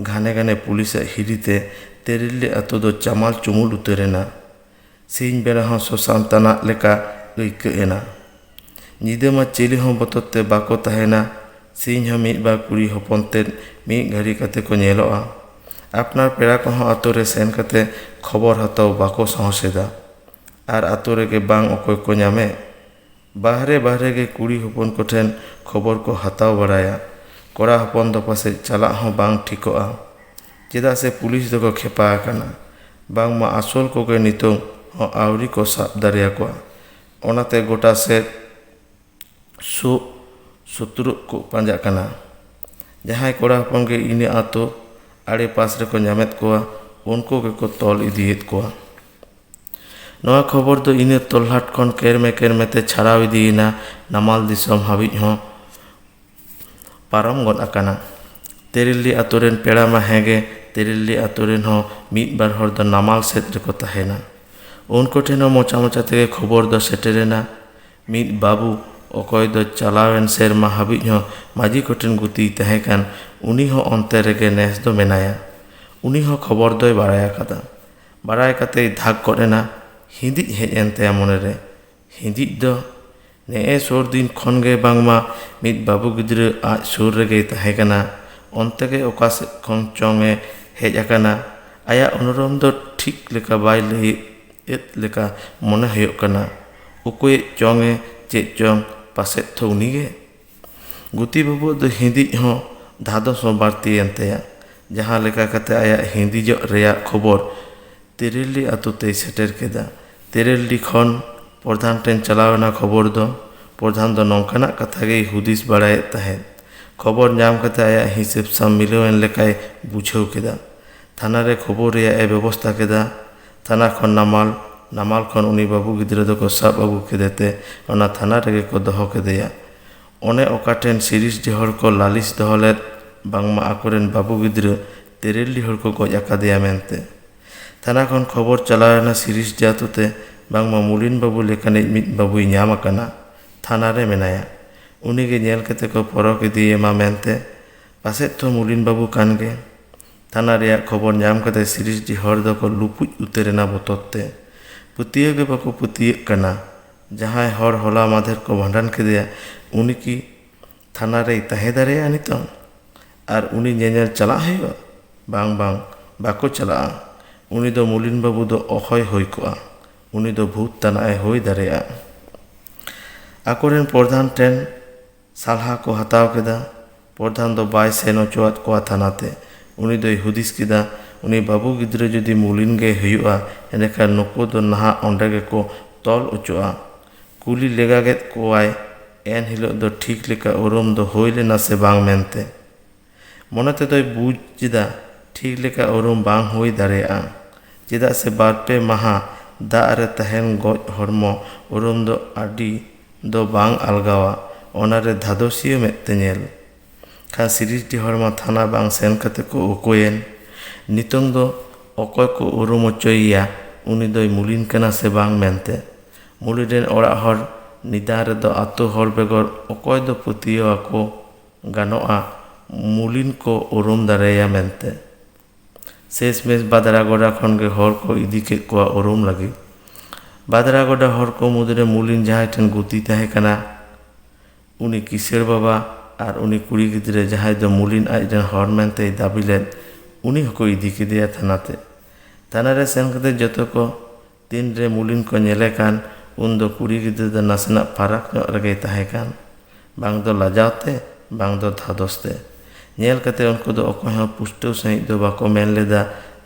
ᱜᱷᱟᱱᱮ ᱜᱷᱟᱱᱮ ᱯᱩᱞᱤᱥᱟᱜ ᱦᱤᱨᱤ ᱛᱮ ᱛᱮᱨᱮᱞᱞᱤ ᱟᱹᱛᱩ ᱫᱚ ᱪᱟᱢᱟᱞ ᱪᱩᱢᱩᱞ ᱩᱛᱟᱹᱨ ᱮᱱᱟ᱾ ᱥᱤᱧ ᱵᱮᱲᱟ ᱦᱚᱸ ᱥᱚᱥᱟᱱ ᱛᱟᱱᱟᱜ ᱞᱮᱠᱟ ᱟᱹᱭᱠᱟᱹᱜ ᱮᱱᱟ᱾ ᱧᱤᱫᱟᱹ ᱢᱟ ᱪᱤᱞᱤ ᱦᱚᱸ ᱵᱚᱛᱚᱨ ᱛᱮ ᱵᱟᱠᱚ ᱛᱟᱦᱮᱸᱱᱟ᱾ ᱥᱤᱧ ᱦᱚᱸ ᱢᱤᱫ ᱵᱟᱨ ᱠᱩᱲᱤ ᱦᱚᱯᱚᱱ ᱛᱮᱫ ᱢᱤᱫ ᱜᱷᱟᱹᱲᱤ ᱠᱟᱛᱮ ᱠᱚ ᱧᱮᱞᱚᱜᱼᱟ᱾ ᱟᱯᱱᱟᱨ ᱯᱮᱲᱟ ᱠᱚᱦᱚᱸ ᱟᱹᱛᱩ ᱨᱮ ᱥᱮᱱ ᱠᱟᱛᱮ ᱠᱷᱚᱵᱚᱨ ᱦᱟᱛᱟᱣ ᱵᱟᱠᱚ ᱥᱟᱦᱚᱥᱮᱫᱟ᱾ ᱟᱨ ᱟᱹᱛᱩ ᱨᱮᱜᱮ ᱵᱟᱝ ᱚᱠᱚᱭ ᱠᱚ ᱧᱟᱢᱮᱫ᱾ ᱵᱟᱦᱨᱮ ᱵᱟᱦᱨᱮ ᱜᱮ ᱠᱩᱲᱤ ᱦᱚᱯᱚᱱ ᱠᱚ ᱴᱷᱮᱱ ᱠᱷᱚᱵᱚᱨ ᱠᱚ ᱦᱟᱛᱟᱣ ᱵᱟᱲᱟᱭᱟ᱾ ᱠᱚᱲᱟ ᱦᱚᱯᱚᱱ ᱫᱚ ᱯᱟᱥᱮᱡ ᱪᱟᱞᱟᱜ ᱦᱚᱸ ᱵᱟᱝ ᱴᱷᱤᱠᱚᱜᱼᱟ᱾ ᱪᱮᱫᱟᱜ ᱥᱮ ᱯᱩᱞᱤᱥ ᱫᱚᱠᱚ ᱠᱷᱮᱯᱟ ᱟᱠᱟᱱᱟ᱾ ᱵᱟᱝᱢᱟ ᱟᱥᱚᱞ ᱠᱚᱜᱮ ᱱᱤᱛᱚᱝ ᱦᱚᱸ ᱟᱹᱣᱨᱤ ᱠᱚ ᱥᱟᱵ ᱫᱟᱲᱮ ᱟᱠᱚᱣᱟ᱾ ᱚᱱᱟᱛᱮ ᱜᱚᱴᱟ ᱥᱮᱫ ᱥᱩᱜ ᱥᱩᱛᱨᱩᱜ ᱠᱚ ᱯᱟᱸᱡᱟᱜ ᱠᱟᱱᱟ᱾ ᱡᱟᱦᱟᱸᱭ ᱠᱚᱲᱟ ᱦᱚᱯᱚᱱ ᱜᱮ ᱤᱱᱟᱹ ᱟᱹᱛᱩ ᱟᱲᱮ ᱯᱟᱥ ᱨᱮᱠᱚ ᱧᱟᱢᱮᱫ ᱠᱚᱣᱟ ᱩᱱᱠᱩ ᱜᱮᱠᱚ ᱛᱚᱞ ᱤᱫᱤᱭᱮᱫ ᱠᱚᱣᱟ᱾ ᱱᱚᱣᱟ ᱠᱷᱚᱵᱚᱨ ᱫᱚ ᱤᱱᱟᱹ ᱛᱚᱞᱦᱟᱴ ᱠᱷᱚᱱ ᱠᱮᱨᱢᱮ ᱠᱮᱨᱢᱮ ᱛᱮ ᱪᱷᱟᱨᱟᱣ ᱤᱫᱤᱭᱮᱱᱟ ᱱᱟᱢᱟᱞ ᱫᱤᱥᱚᱢ ᱦᱟᱹᱵᱤᱡ ᱦᱚᱸ ᱯᱟᱨᱚᱢ ᱜᱚᱫ ᱟᱠᱟᱱᱟ ᱛᱮᱨᱮᱞᱰᱤ ᱟᱹᱛᱩ ᱨᱮᱱ ᱯᱮᱲᱟ ᱢᱟ ᱦᱮᱸᱜᱮ ᱛᱮᱨᱮᱞᱰᱤ ᱟᱹᱛᱩ ᱨᱮᱱ ᱦᱚᱸ ᱢᱤᱫ ᱵᱟᱨ ᱦᱚᱲ ᱫᱚ ᱱᱟᱢᱟᱞ ᱥᱮᱫ ᱨᱮᱠᱚ ᱛᱟᱦᱮᱱᱟ ᱩᱱᱠᱩ ᱴᱷᱮᱱ ᱦᱚᱸ ᱢᱚᱪᱟ ᱢᱚᱪᱟ ᱛᱮᱜᱮ ᱠᱷᱚᱵᱚᱨ ᱫᱚ ᱥᱮᱴᱮᱨᱮᱱᱟ ᱢᱤᱫ ᱵᱟᱹᱵᱩ ᱚᱠᱚᱭ ᱫᱚ ᱪᱟᱞᱟᱣᱮᱱ ᱥᱮᱨᱢᱟ ᱦᱟᱹᱵᱤᱡ ᱦᱚᱸ ᱢᱟᱹᱡᱷᱤ ᱠᱚᱴᱷᱮᱱ ᱜᱩᱛᱤᱭ ᱛᱟᱦᱮᱸ ᱠᱟᱱ ᱩᱱᱤ ᱦᱚᱸ ᱚᱱᱛᱮ ᱨᱮᱜᱮ ᱱᱮᱥ ᱫᱚ ᱢᱮᱱᱟᱭᱟ ᱩᱱᱤ ᱦᱚᱸ ᱠᱷᱚᱵᱚᱨ ᱫᱚᱭ ᱵᱟᱲᱟᱭ ᱟᱠᱟᱫᱟ ᱵᱟᱲᱟᱭ ᱠᱟᱛᱮᱭ ᱫᱷᱟᱠ ᱜᱚᱫ ᱮᱱᱟ ᱦᱤᱸᱫᱤᱡ ᱦᱮᱡ ᱮᱱ ᱛᱟᱭᱟ ᱢᱚᱱᱮ ᱨᱮ ᱦᱤᱸᱫᱤᱡ ᱫᱚ ᱱᱮᱜᱼᱮ ᱥᱩᱨ ᱫᱤᱱ ᱠᱷᱚᱱ ᱜᱮ ᱵᱟᱝᱢᱟ ᱢᱤᱫ ᱵᱟᱹᱵᱩ ᱜᱤᱫᱽᱨᱟᱹ ᱟᱡ ᱥᱩᱨ ᱨᱮᱜᱮᱭ ᱛᱟᱦᱮᱸ ᱠᱟᱱᱟ ᱚᱱᱛᱮ ᱜᱮ ᱚᱠᱟ ᱥᱮᱫ ᱠᱷᱚᱱ ᱪᱚᱝ ᱮ ᱦᱮᱡ ᱟᱠᱟᱱᱟ ᱟᱭᱟᱜ ᱩᱱᱩᱨᱩᱢ ᱫᱚ ᱴᱷᱤᱠ ᱞᱮᱠᱟ ᱵᱟᱭ ᱞᱟᱹᱭ ᱮᱫ ᱞᱮᱠᱟ ᱢᱚᱱᱮ ᱦᱩᱭᱩᱜ ᱠᱟᱱᱟ ᱩᱠᱩᱭᱮᱫ ᱪᱚᱝ ᱮ ᱪᱮᱫ ᱪᱚᱝ ᱯᱟᱥᱮᱫ ᱛᱷᱚ ᱩᱱᱤ ᱜᱮ ᱜᱩᱛᱤ ᱵᱟᱹᱵᱩᱣᱟᱜ ᱫᱚ ᱦᱤᱸᱫᱤᱡ ᱦᱚᱸ ᱫᱷᱟᱫᱚᱥ ᱦᱚᱸ ᱵᱟᱹᱲᱛᱤᱭᱮᱱ ᱛᱟᱭᱟ᱾ ᱡᱟᱦᱟᱸ ᱞᱮᱠᱟ ᱠᱟᱛᱮ ᱟᱭᱟᱜ ᱦᱤᱸᱫᱤᱡᱚᱜ ᱨᱮᱭᱟᱜ ᱠᱷᱚᱵᱚᱨ ᱛᱮᱨᱮᱞᱰᱤ ᱟᱹᱛᱩ ᱛᱮᱭ ᱥᱮᱴᱮᱨ ᱠᱮᱫᱟ᱾ ᱛᱮᱨᱮᱞᱰᱤ ᱠᱷᱚᱱ ᱯᱨᱚᱫᱷᱟᱱ ᱴᱷᱮᱱ ᱪᱟᱞᱟᱣ ᱮᱱᱟ ᱠᱷᱚᱵᱚᱨ ᱫᱚ᱾ ᱯᱨᱚᱫᱷᱟᱱ ᱫᱚ ᱱᱚᱝᱠᱟᱱᱟᱜ ᱠᱟᱛᱷᱟ ᱜᱮᱭ ᱦᱩᱫᱤᱥ ᱵᱟᱲᱟᱭᱮᱫ ᱛᱟᱦᱮᱸᱫ᱾ ᱠᱷᱚᱵᱚᱨ ᱧᱟᱢ ᱠᱟᱛᱮ ᱟᱭᱟᱜ ᱦᱤᱥᱟᱹᱵᱽ ᱥᱟᱶ ᱢᱤᱞᱟᱹᱣ ᱮᱱ ᱞᱮᱠᱟᱭ ᱵᱩᱡᱷᱟᱹᱣ ᱠᱮᱫᱟ᱾ ᱛᱷᱟᱱᱟ ᱨᱮ ᱠᱷᱚᱵᱚᱨ ᱨᱮᱭᱟᱜ ᱮ ᱵᱮᱵᱚᱥᱛᱟ ᱠᱮᱫᱟ᱾ ᱛᱷᱟᱱᱟ ᱠᱷᱚᱱ ᱱᱟᱢᱟᱞ, ᱱᱟᱢᱟᱞ ᱠᱷᱚᱱ ᱩᱱᱤ ᱵᱟᱹᱵᱩ ᱜᱤᱫᱽᱨᱟᱹ ᱫᱚ ᱠᱚ ᱥᱟᱵ ᱟᱹᱜᱩ ᱠᱮᱫᱮ ᱛᱮ ᱚᱱᱟ ᱛᱷᱟᱱᱟ ᱨᱮᱜᱮ ᱠᱚ ᱫᱚᱦᱚ ᱠᱮᱫᱮᱭᱟ᱾ ᱚᱱᱮ ᱚᱠᱟ ᱴᱷᱮᱱ ᱥᱤᱨᱤᱥ ᱰᱤ ᱦᱚᱲ ᱠᱚ ᱞᱟᱹᱞᱤᱥ ᱫᱚᱦᱚ ᱞᱮᱫ ᱵᱟᱝᱢᱟ ᱟᱠᱚ ᱨᱮᱱ ᱵᱟᱹᱵᱩ ᱜᱤᱫᱽᱨᱟᱹ ᱛᱮᱨᱮᱞ ᱰᱤ ᱦᱚᱲ ᱠᱚ ᱜᱚᱡ ᱟᱠᱟᱫᱮᱭᱟ ᱢᱮᱱᱛᱮ᱾ ᱛᱷᱟᱱᱟ ᱠᱷᱚᱱ ᱠᱷᱚᱵᱚᱨ ᱪᱟᱞᱟᱣ ᱮᱱᱟ ᱥᱤᱨᱤᱥ ᱰᱤ ᱟᱹᱛᱩ ᱛᱮ ᱵᱟᱝᱢᱟ ᱢᱩᱞᱤᱱ ᱵᱟᱹᱵᱩ ᱞᱮᱠᱟᱱᱤᱡ ᱢᱤᱫ ᱵᱟᱹᱵᱩᱭ ᱧᱟᱢ ᱟᱠᱟᱱᱟ, ᱛᱷᱟᱱᱟ ᱨᱮ ᱢᱮᱱᱟᱭᱟ᱾ ᱩᱱᱤ ᱜᱮ ᱧᱮᱞ ᱠᱮᱛᱮ ᱠᱚ ᱯᱚᱨᱚᱠ ᱤᱫᱤᱭᱮᱢᱟ ᱢᱮᱱᱛᱮ᱾ ᱯᱟᱥᱮᱫ ᱛᱷᱚ ᱢᱩᱞᱤᱱ ᱵᱟᱹᱵᱩ ᱠᱟᱱ ᱜᱮ᱾ ᱛᱷᱟᱱᱟ ᱨᱮᱭᱟᱜ ᱠᱷᱚᱵᱚᱨ ᱧᱟᱢ ᱠᱟᱛᱮ ᱥᱤᱨᱤᱥᱰᱤ ᱦᱚᱲ ᱫᱚ ᱠᱚ ᱞᱩᱯᱩᱡ ᱩᱛᱟᱹᱨ ᱮᱱᱟ ᱵᱚᱛᱚᱨ ᱛᱮ᱾ ᱯᱟᱹᱛᱭᱟᱹᱣ ᱜᱮ ᱵᱟᱠᱚ ᱯᱟᱹᱛᱭᱟᱹᱜ ᱠᱟᱱᱟ᱾ ᱡᱟᱦᱟᱸᱭ ᱦᱚᱲ ᱦᱚᱞᱟ ᱢᱟᱫᱷᱮᱨ ᱠᱚ ᱵᱷᱟᱸᱰᱟᱱ ᱠᱮᱫᱮᱭᱟ ᱩᱱᱤ ᱠᱤ ᱛᱷᱟᱱᱟ ᱨᱮᱭ ᱛᱟᱦᱮᱸ ᱫᱟᱲᱮᱭᱟᱜᱼᱟ ᱱᱤᱛᱚᱝ? ᱟᱨ ᱩᱱᱤ ᱧᱮᱧᱮᱞ ᱪᱟᱞᱟᱜ ᱦᱩᱭᱩᱜᱼᱟ? ᱵᱟᱝ ᱵᱟᱝ ᱵᱟᱠᱚ ᱪᱟᱞᱟᱜᱼᱟ᱾ ᱩᱱᱤ ᱫᱚ ᱢᱩᱞᱤᱱ ᱵᱟᱹᱵᱩ ᱫᱚ ᱚᱦᱚᱭ ᱦᱩᱭ ᱠᱚᱜᱼᱟ᱾ ᱩᱱᱤ ᱫᱚ ᱵᱷᱩᱛ ᱛᱟᱱᱟᱜ ᱮ ᱦᱩᱭ ᱫᱟᱲᱮᱭᱟᱜᱼᱟ᱾ ᱟᱠᱚ ᱨᱮᱱ ᱯᱚᱨᱫᱷᱟᱱ ᱴᱷᱮᱱ᱾ ᱥᱟᱞᱦᱟ ᱠᱚ ᱦᱟᱛᱟᱣ ᱠᱮᱫᱟ᱾ ᱯᱚᱨᱫᱷᱟᱱ ᱫᱚ ᱵᱟᱭ ᱥᱮᱱ ᱚᱪᱚᱣᱟᱫ ᱠᱚᱣᱟ ᱛᱷᱟᱱᱟ ᱛᱮ᱾ ᱩᱱᱤ ᱫᱚᱭ ᱦᱩᱫᱤᱥ ᱠᱮᱫᱟ ᱩᱱᱤ ᱵᱟᱹᱵᱩ ᱜᱤᱫᱽᱨᱟᱹ ᱡᱩᱫᱤ ᱢᱩᱞᱤᱱ ᱜᱮᱭ ᱦᱩᱭᱩᱜᱼᱟ ᱮᱸᱰᱮᱠᱷᱟᱱ ᱱᱩᱠᱩ ᱫᱚ ᱱᱟᱦᱟᱜ ᱚᱸᱰᱮ ᱜᱮᱠᱚ ᱛᱚᱞ ᱚᱪᱚᱜᱼᱟ᱾ ᱠᱩᱞᱤ ᱞᱮᱜᱟᱜᱮᱫ ᱠᱚᱣᱟᱭ ᱮᱱ ᱦᱤᱞᱚᱜ ᱫᱚ ᱴᱷᱤᱠ ᱞᱮᱠᱟ ᱩᱨᱩᱢ ᱫᱚ ᱦᱩᱭ ᱞᱮᱱᱟ ᱥᱮ ᱵᱟᱝ ᱢᱮᱱᱛᱮ᱾ ᱢᱚᱱᱮ ᱛᱮᱫᱚᱭ ᱵᱩᱡᱽ ᱮᱫᱟ ᱴᱷᱤᱠ ᱞᱮᱠᱟ ᱩᱨᱩᱢ ᱵᱟᱝ ᱦᱩᱭ ᱫᱟᱲᱮᱭᱟᱜᱼᱟ᱾ ᱪᱮᱫᱟᱜ ᱥᱮ ᱵᱟᱨ ᱯᱮ ᱢᱟᱦᱟ ᱫᱟᱜ ᱨᱮ ᱛᱟᱦᱮᱸᱱ ᱜᱚᱡ ᱦᱚᱲᱢᱚ ᱩᱨᱩᱢ ᱫᱚ ᱟᱹᱰᱤ ᱫᱚ ᱵᱟᱝ ᱟᱞᱜᱟᱣᱟ ᱚᱱᱟ ᱨᱮ ᱫᱷᱟᱫᱚᱥᱤᱭᱟᱹ ᱢᱮᱫ ᱛᱮ ᱧᱮᱞ᱾ ᱠᱷᱟᱱ ᱥᱤᱨᱤᱡᱽᱰᱤ ᱦᱚᱲ ᱢᱟ ᱛᱷᱟᱱᱟ ᱵᱟᱝ ᱥᱮᱱ ᱠᱟᱛᱮ ᱠᱚ ᱩᱠᱩᱭᱮᱱ᱾ ᱱᱤᱛᱚᱝ ᱫᱚ ᱚᱠᱚᱭ ᱠᱚ ᱩᱨᱩᱢ ᱚᱪᱚᱭᱮᱭᱟ ᱩᱱᱤ ᱫᱚᱭ ᱢᱩᱞᱤᱱ ᱠᱟᱱᱟ ᱥᱮ ᱵᱟᱝ ᱢᱮᱱᱛᱮ᱾ ᱢᱩᱞᱤᱱ ᱨᱤᱱ ᱚᱲᱟᱜ ᱦᱚᱲ ᱱᱤᱫᱟᱱ ᱨᱮᱫᱚ ᱟᱹᱛᱩ ᱦᱚᱲ ᱵᱮᱜᱚᱨ ᱚᱠᱚᱭ ᱫᱚ ᱯᱟᱹᱛᱭᱟᱹᱣ ᱟᱠᱚ᱾ ᱜᱟᱱᱚᱜᱼᱟ ᱢᱩᱞᱤᱱ ᱠᱚ ᱩᱨᱩᱢ ᱫᱟᱨᱮᱭᱟᱭᱟ ᱢᱮᱱᱛᱮ᱾ ᱥᱮᱥ ᱢᱮᱥ ᱵᱟᱫᱽᱨᱟ ᱜᱚᱰᱟ ᱠᱷᱚᱱ ᱜᱮ ᱦᱚᱲ ᱠᱚ ᱤᱫᱤ ᱠᱮᱫ ᱠᱚᱣᱟ ᱩᱨᱩᱢ ᱞᱟᱹᱜᱤᱫ᱾ ᱵᱟᱫᱽᱨᱟ ᱜᱚᱰᱟ ᱦᱚᱲ ᱠᱚ ᱢᱩᱫᱽ ᱨᱮ ᱢᱩᱞᱤᱱ ᱡᱟᱦᱟᱸᱭ ᱴᱷᱮᱱ ᱜᱩᱛᱤᱭ ᱛᱟᱦᱮᱸ ᱠᱟᱱᱟ ᱩᱱᱤ ᱠᱤᱥᱟᱹᱬ ᱵᱟᱵᱟ ᱟᱨ ᱩᱱᱤ ᱠᱩᱲᱤ ᱜᱤᱫᱽᱨᱟᱹ ᱡᱟᱦᱟᱸᱭ ᱫᱚ ᱢᱩᱞᱤᱱ ᱟᱡ ᱨᱮᱱ ᱦᱚᱲ ᱢᱮᱱᱛᱮᱭ ᱫᱟᱹᱵᱤ ᱞᱮᱫ ᱩᱱᱤ ᱦᱚᱸᱠᱚ ᱤᱫᱤ ᱠᱮᱫᱮᱭᱟ ᱛᱷᱟᱱᱟ ᱛᱮ᱾ ᱛᱷᱟᱱᱟ ᱨᱮ ᱥᱮᱱ ᱠᱟᱛᱮ ᱡᱚᱛᱚ ᱠᱚ ᱛᱤᱱ ᱨᱮ ᱢᱩᱞᱤᱱ ᱠᱚ ᱧᱮᱞᱮ ᱠᱟᱱ ᱩᱱ ᱫᱚ ᱠᱩᱲᱤ ᱜᱤᱫᱽᱨᱟᱹ ᱫᱚ ᱱᱟᱥᱮᱱᱟᱜ ᱯᱷᱟᱨᱟᱠ ᱧᱚᱜ ᱨᱮᱜᱮᱭ ᱛᱟᱦᱮᱸ ᱠᱟᱱ᱾ ᱵᱟᱝ ᱫᱚ ᱞᱟᱡᱟᱣ ᱛᱮ ᱵᱟᱝ ᱫᱚ ᱫᱷᱟᱫᱚᱥ ᱛᱮ᱾ ᱧᱮᱞ ᱠᱟᱛᱮ ᱩᱱᱠᱩ ᱫᱚ ᱚᱠᱚᱭ ᱦᱚᱸ ᱯᱩᱥᱴᱟᱹᱣ ᱥᱟᱺᱦᱤᱡ ᱫᱚ ᱵᱟᱠᱚ ᱢᱮᱱ ᱞᱮᱫᱟ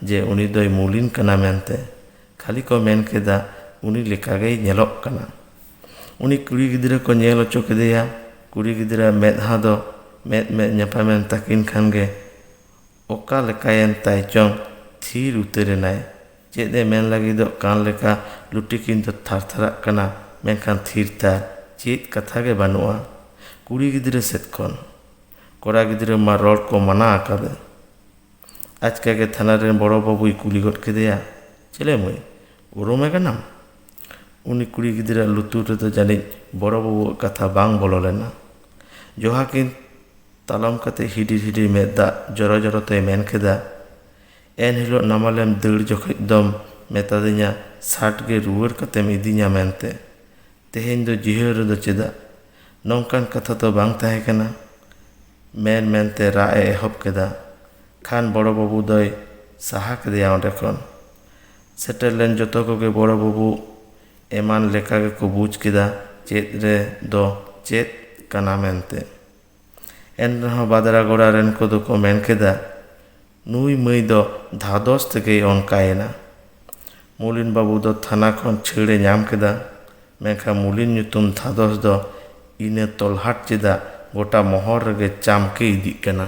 ᱡᱮ ᱩᱱᱤ ᱫᱚᱭ ᱢᱩᱞᱤᱱ ᱠᱟᱱᱟ ᱢᱮᱱᱛᱮ᱾ ᱠᱷᱟᱹᱞᱤ ᱠᱚ ᱢᱮᱱ ᱠᱮᱫᱟ ᱩᱱᱤ ᱞᱮᱠᱟ ᱜᱮᱭ ᱧᱮᱞᱚᱜ ᱠᱟᱱᱟ᱾ ᱩᱱᱤ ᱠᱩᱲᱤ ᱜᱤᱫᱽᱨᱟᱹ ᱠᱚ ᱧᱮᱞ ᱚᱪᱚ ᱠᱮᱫᱮᱭᱟ᱾ ᱠᱩᱲᱤ ᱜᱤᱫᱽᱨᱟᱹ ᱟᱜ ᱢᱮᱫᱦᱟ ᱫᱚ ᱢᱮᱫ ᱢᱮᱫ ᱧᱟᱯᱟᱢᱮᱱ ᱛᱟᱹᱠᱤᱱ ᱠᱷᱟᱱ ᱜᱮ ᱚᱠᱟ ᱞᱮᱠᱟᱭᱮᱱ ᱛᱟᱭ ᱪᱚᱝ ᱛᱷᱤᱨ ᱩᱛᱟᱹᱨ ᱮᱱᱟᱭ᱾ ᱪᱮᱫ ᱮ ᱢᱮᱱ ᱞᱟᱹᱜᱤᱫᱚᱜ ᱠᱟᱱ ᱞᱮᱠᱟ ᱞᱩᱴᱤᱠᱤᱱ ᱫᱚ ᱛᱷᱟᱨ ᱛᱷᱟᱨᱟᱜ ᱠᱟᱱᱟ ᱢᱮᱱᱠᱷᱟᱱ ᱛᱷᱤᱨ ᱛᱷᱟᱨ ᱪᱮᱫ ᱠᱟᱛᱷᱟ ᱜᱮ ᱵᱟᱹᱱᱩᱜᱼᱟ ᱠᱩᱲᱤ ᱜᱤᱫᱽᱨᱟᱹ ᱥᱮᱫ ᱠᱷᱚᱱ᱾ ᱠᱚᱲᱟ ᱜᱤᱫᱽᱨᱟᱹ ᱢᱟ ᱨᱚᱲ ᱠᱚ ᱢᱟᱱᱟ ᱟᱠᱟᱫᱮ᱾ ᱟᱪᱠᱟ ᱜᱮ ᱛᱷᱟᱱᱟ ᱨᱤᱱ ᱵᱚᱲᱚ ᱵᱟᱹᱵᱩᱭ ᱠᱩᱞᱤ ᱜᱚᱫ ᱠᱮᱫᱮᱭᱟ, ᱪᱮᱞᱮ ᱢᱟᱹᱭ, ᱩᱨᱩᱢᱮ ᱠᱟᱱᱟᱢ? ᱩᱱᱤ ᱠᱩᱲᱤ ᱜᱤᱫᱽᱨᱟᱹᱣᱟᱜ ᱞᱩᱛᱩᱨ ᱨᱮᱫᱚ ᱡᱟᱹᱱᱤᱡ ᱵᱚᱲᱚ ᱵᱟᱹᱵᱩᱣᱟᱜ ᱠᱟᱛᱷᱟ ᱵᱟᱝ ᱵᱚᱞᱚ ᱞᱮᱱᱟ᱾ ᱡᱚᱦᱟ ᱠᱤᱱ ᱛᱟᱞᱚᱢ ᱠᱟᱛᱮ ᱦᱤᱰᱤᱨ ᱦᱤᱰᱤᱨ ᱢᱮᱫ ᱫᱟᱜ ᱡᱚᱨᱚ ᱡᱚᱨᱚ ᱛᱮᱭ ᱢᱮᱱ ᱠᱮᱫᱟ, ᱮᱱ ᱦᱤᱞᱚᱜ ᱱᱟᱢᱟᱞᱮᱢ ᱫᱟᱹᱲ ᱡᱚᱠᱷᱮᱡ ᱫᱚᱢ ᱢᱮᱛᱟᱫᱤᱧᱟ ᱥᱟᱴ ᱜᱮ ᱨᱩᱣᱟᱹᱲ ᱠᱟᱛᱮᱢ ᱤᱫᱤᱧᱟ ᱢᱮᱱᱛᱮ᱾ ᱛᱮᱦᱮᱧ ᱫᱚ ᱡᱤᱦᱟᱹᱞ ᱨᱮᱫᱚ ᱪᱮᱫᱟᱜ? ᱱᱚᱝᱠᱟᱱ ᱠᱟᱛᱷᱟ ᱛᱚ ᱵᱟᱝ ᱛᱟᱦᱮᱸ ᱠᱟᱱᱟ᱾ ᱢᱮᱱ ᱢᱮᱱᱛᱮ ᱨᱟᱜ ᱮ ᱮᱦᱚᱵ ᱠᱮᱫᱟ᱾ ᱠᱷᱟᱱ ᱵᱚᱲᱚ ᱵᱟᱹᱵᱩ ᱫᱚᱭ ᱥᱟᱦᱟ ᱠᱮᱫᱮᱭᱟ ᱚᱸᱰᱮ ᱠᱷᱚᱱ᱾ ᱥᱮᱴᱮᱨ ᱞᱮᱱ ᱡᱚᱛᱚ ᱠᱚᱜᱮ ᱵᱚᱲᱚ ᱵᱟᱹᱵᱩ ᱮᱢᱟᱱ ᱞᱮᱠᱟ ᱜᱮᱠᱚ ᱵᱩᱡᱽ ᱠᱮᱫᱟ ᱪᱮᱫ ᱨᱮ ᱫᱚ ᱪᱮᱫ ᱠᱟᱱᱟ ᱢᱮᱱᱛᱮ᱾ ᱮᱱᱨᱮᱦᱚᱸ ᱵᱟᱫᱽᱨᱟ ᱜᱚᱲᱟ ᱨᱮᱱ ᱠᱚᱫᱚ ᱠᱚ ᱢᱮᱱ ᱠᱮᱫᱟ ᱱᱩᱭ ᱢᱟᱹᱭ ᱫᱚ ᱫᱷᱟᱫᱚᱥ ᱛᱮᱜᱮᱭ ᱚᱱᱠᱟᱭᱮᱱᱟ ᱢᱩᱞᱤᱱ ᱵᱟᱹᱵᱩ ᱫᱚ ᱛᱷᱟᱱᱟ ᱠᱷᱚᱱ ᱪᱷᱟᱹᱲᱮ ᱧᱟᱢ ᱠᱮᱫᱟ ᱢᱮᱱᱠᱷᱟᱱ ᱢᱩᱞᱤᱱ ᱧᱩᱛᱩᱢ ᱫᱷᱟᱫᱚᱥ ᱫᱚ ᱤᱱᱟᱹ ᱛᱚᱞᱦᱟᱴ ᱪᱮᱫᱟᱜ ᱜᱚᱴᱟ ᱢᱚᱦᱚᱞ ᱨᱮᱜᱮ ᱪᱟᱢᱠᱮ ᱤᱫᱤᱜ ᱠᱟᱱᱟ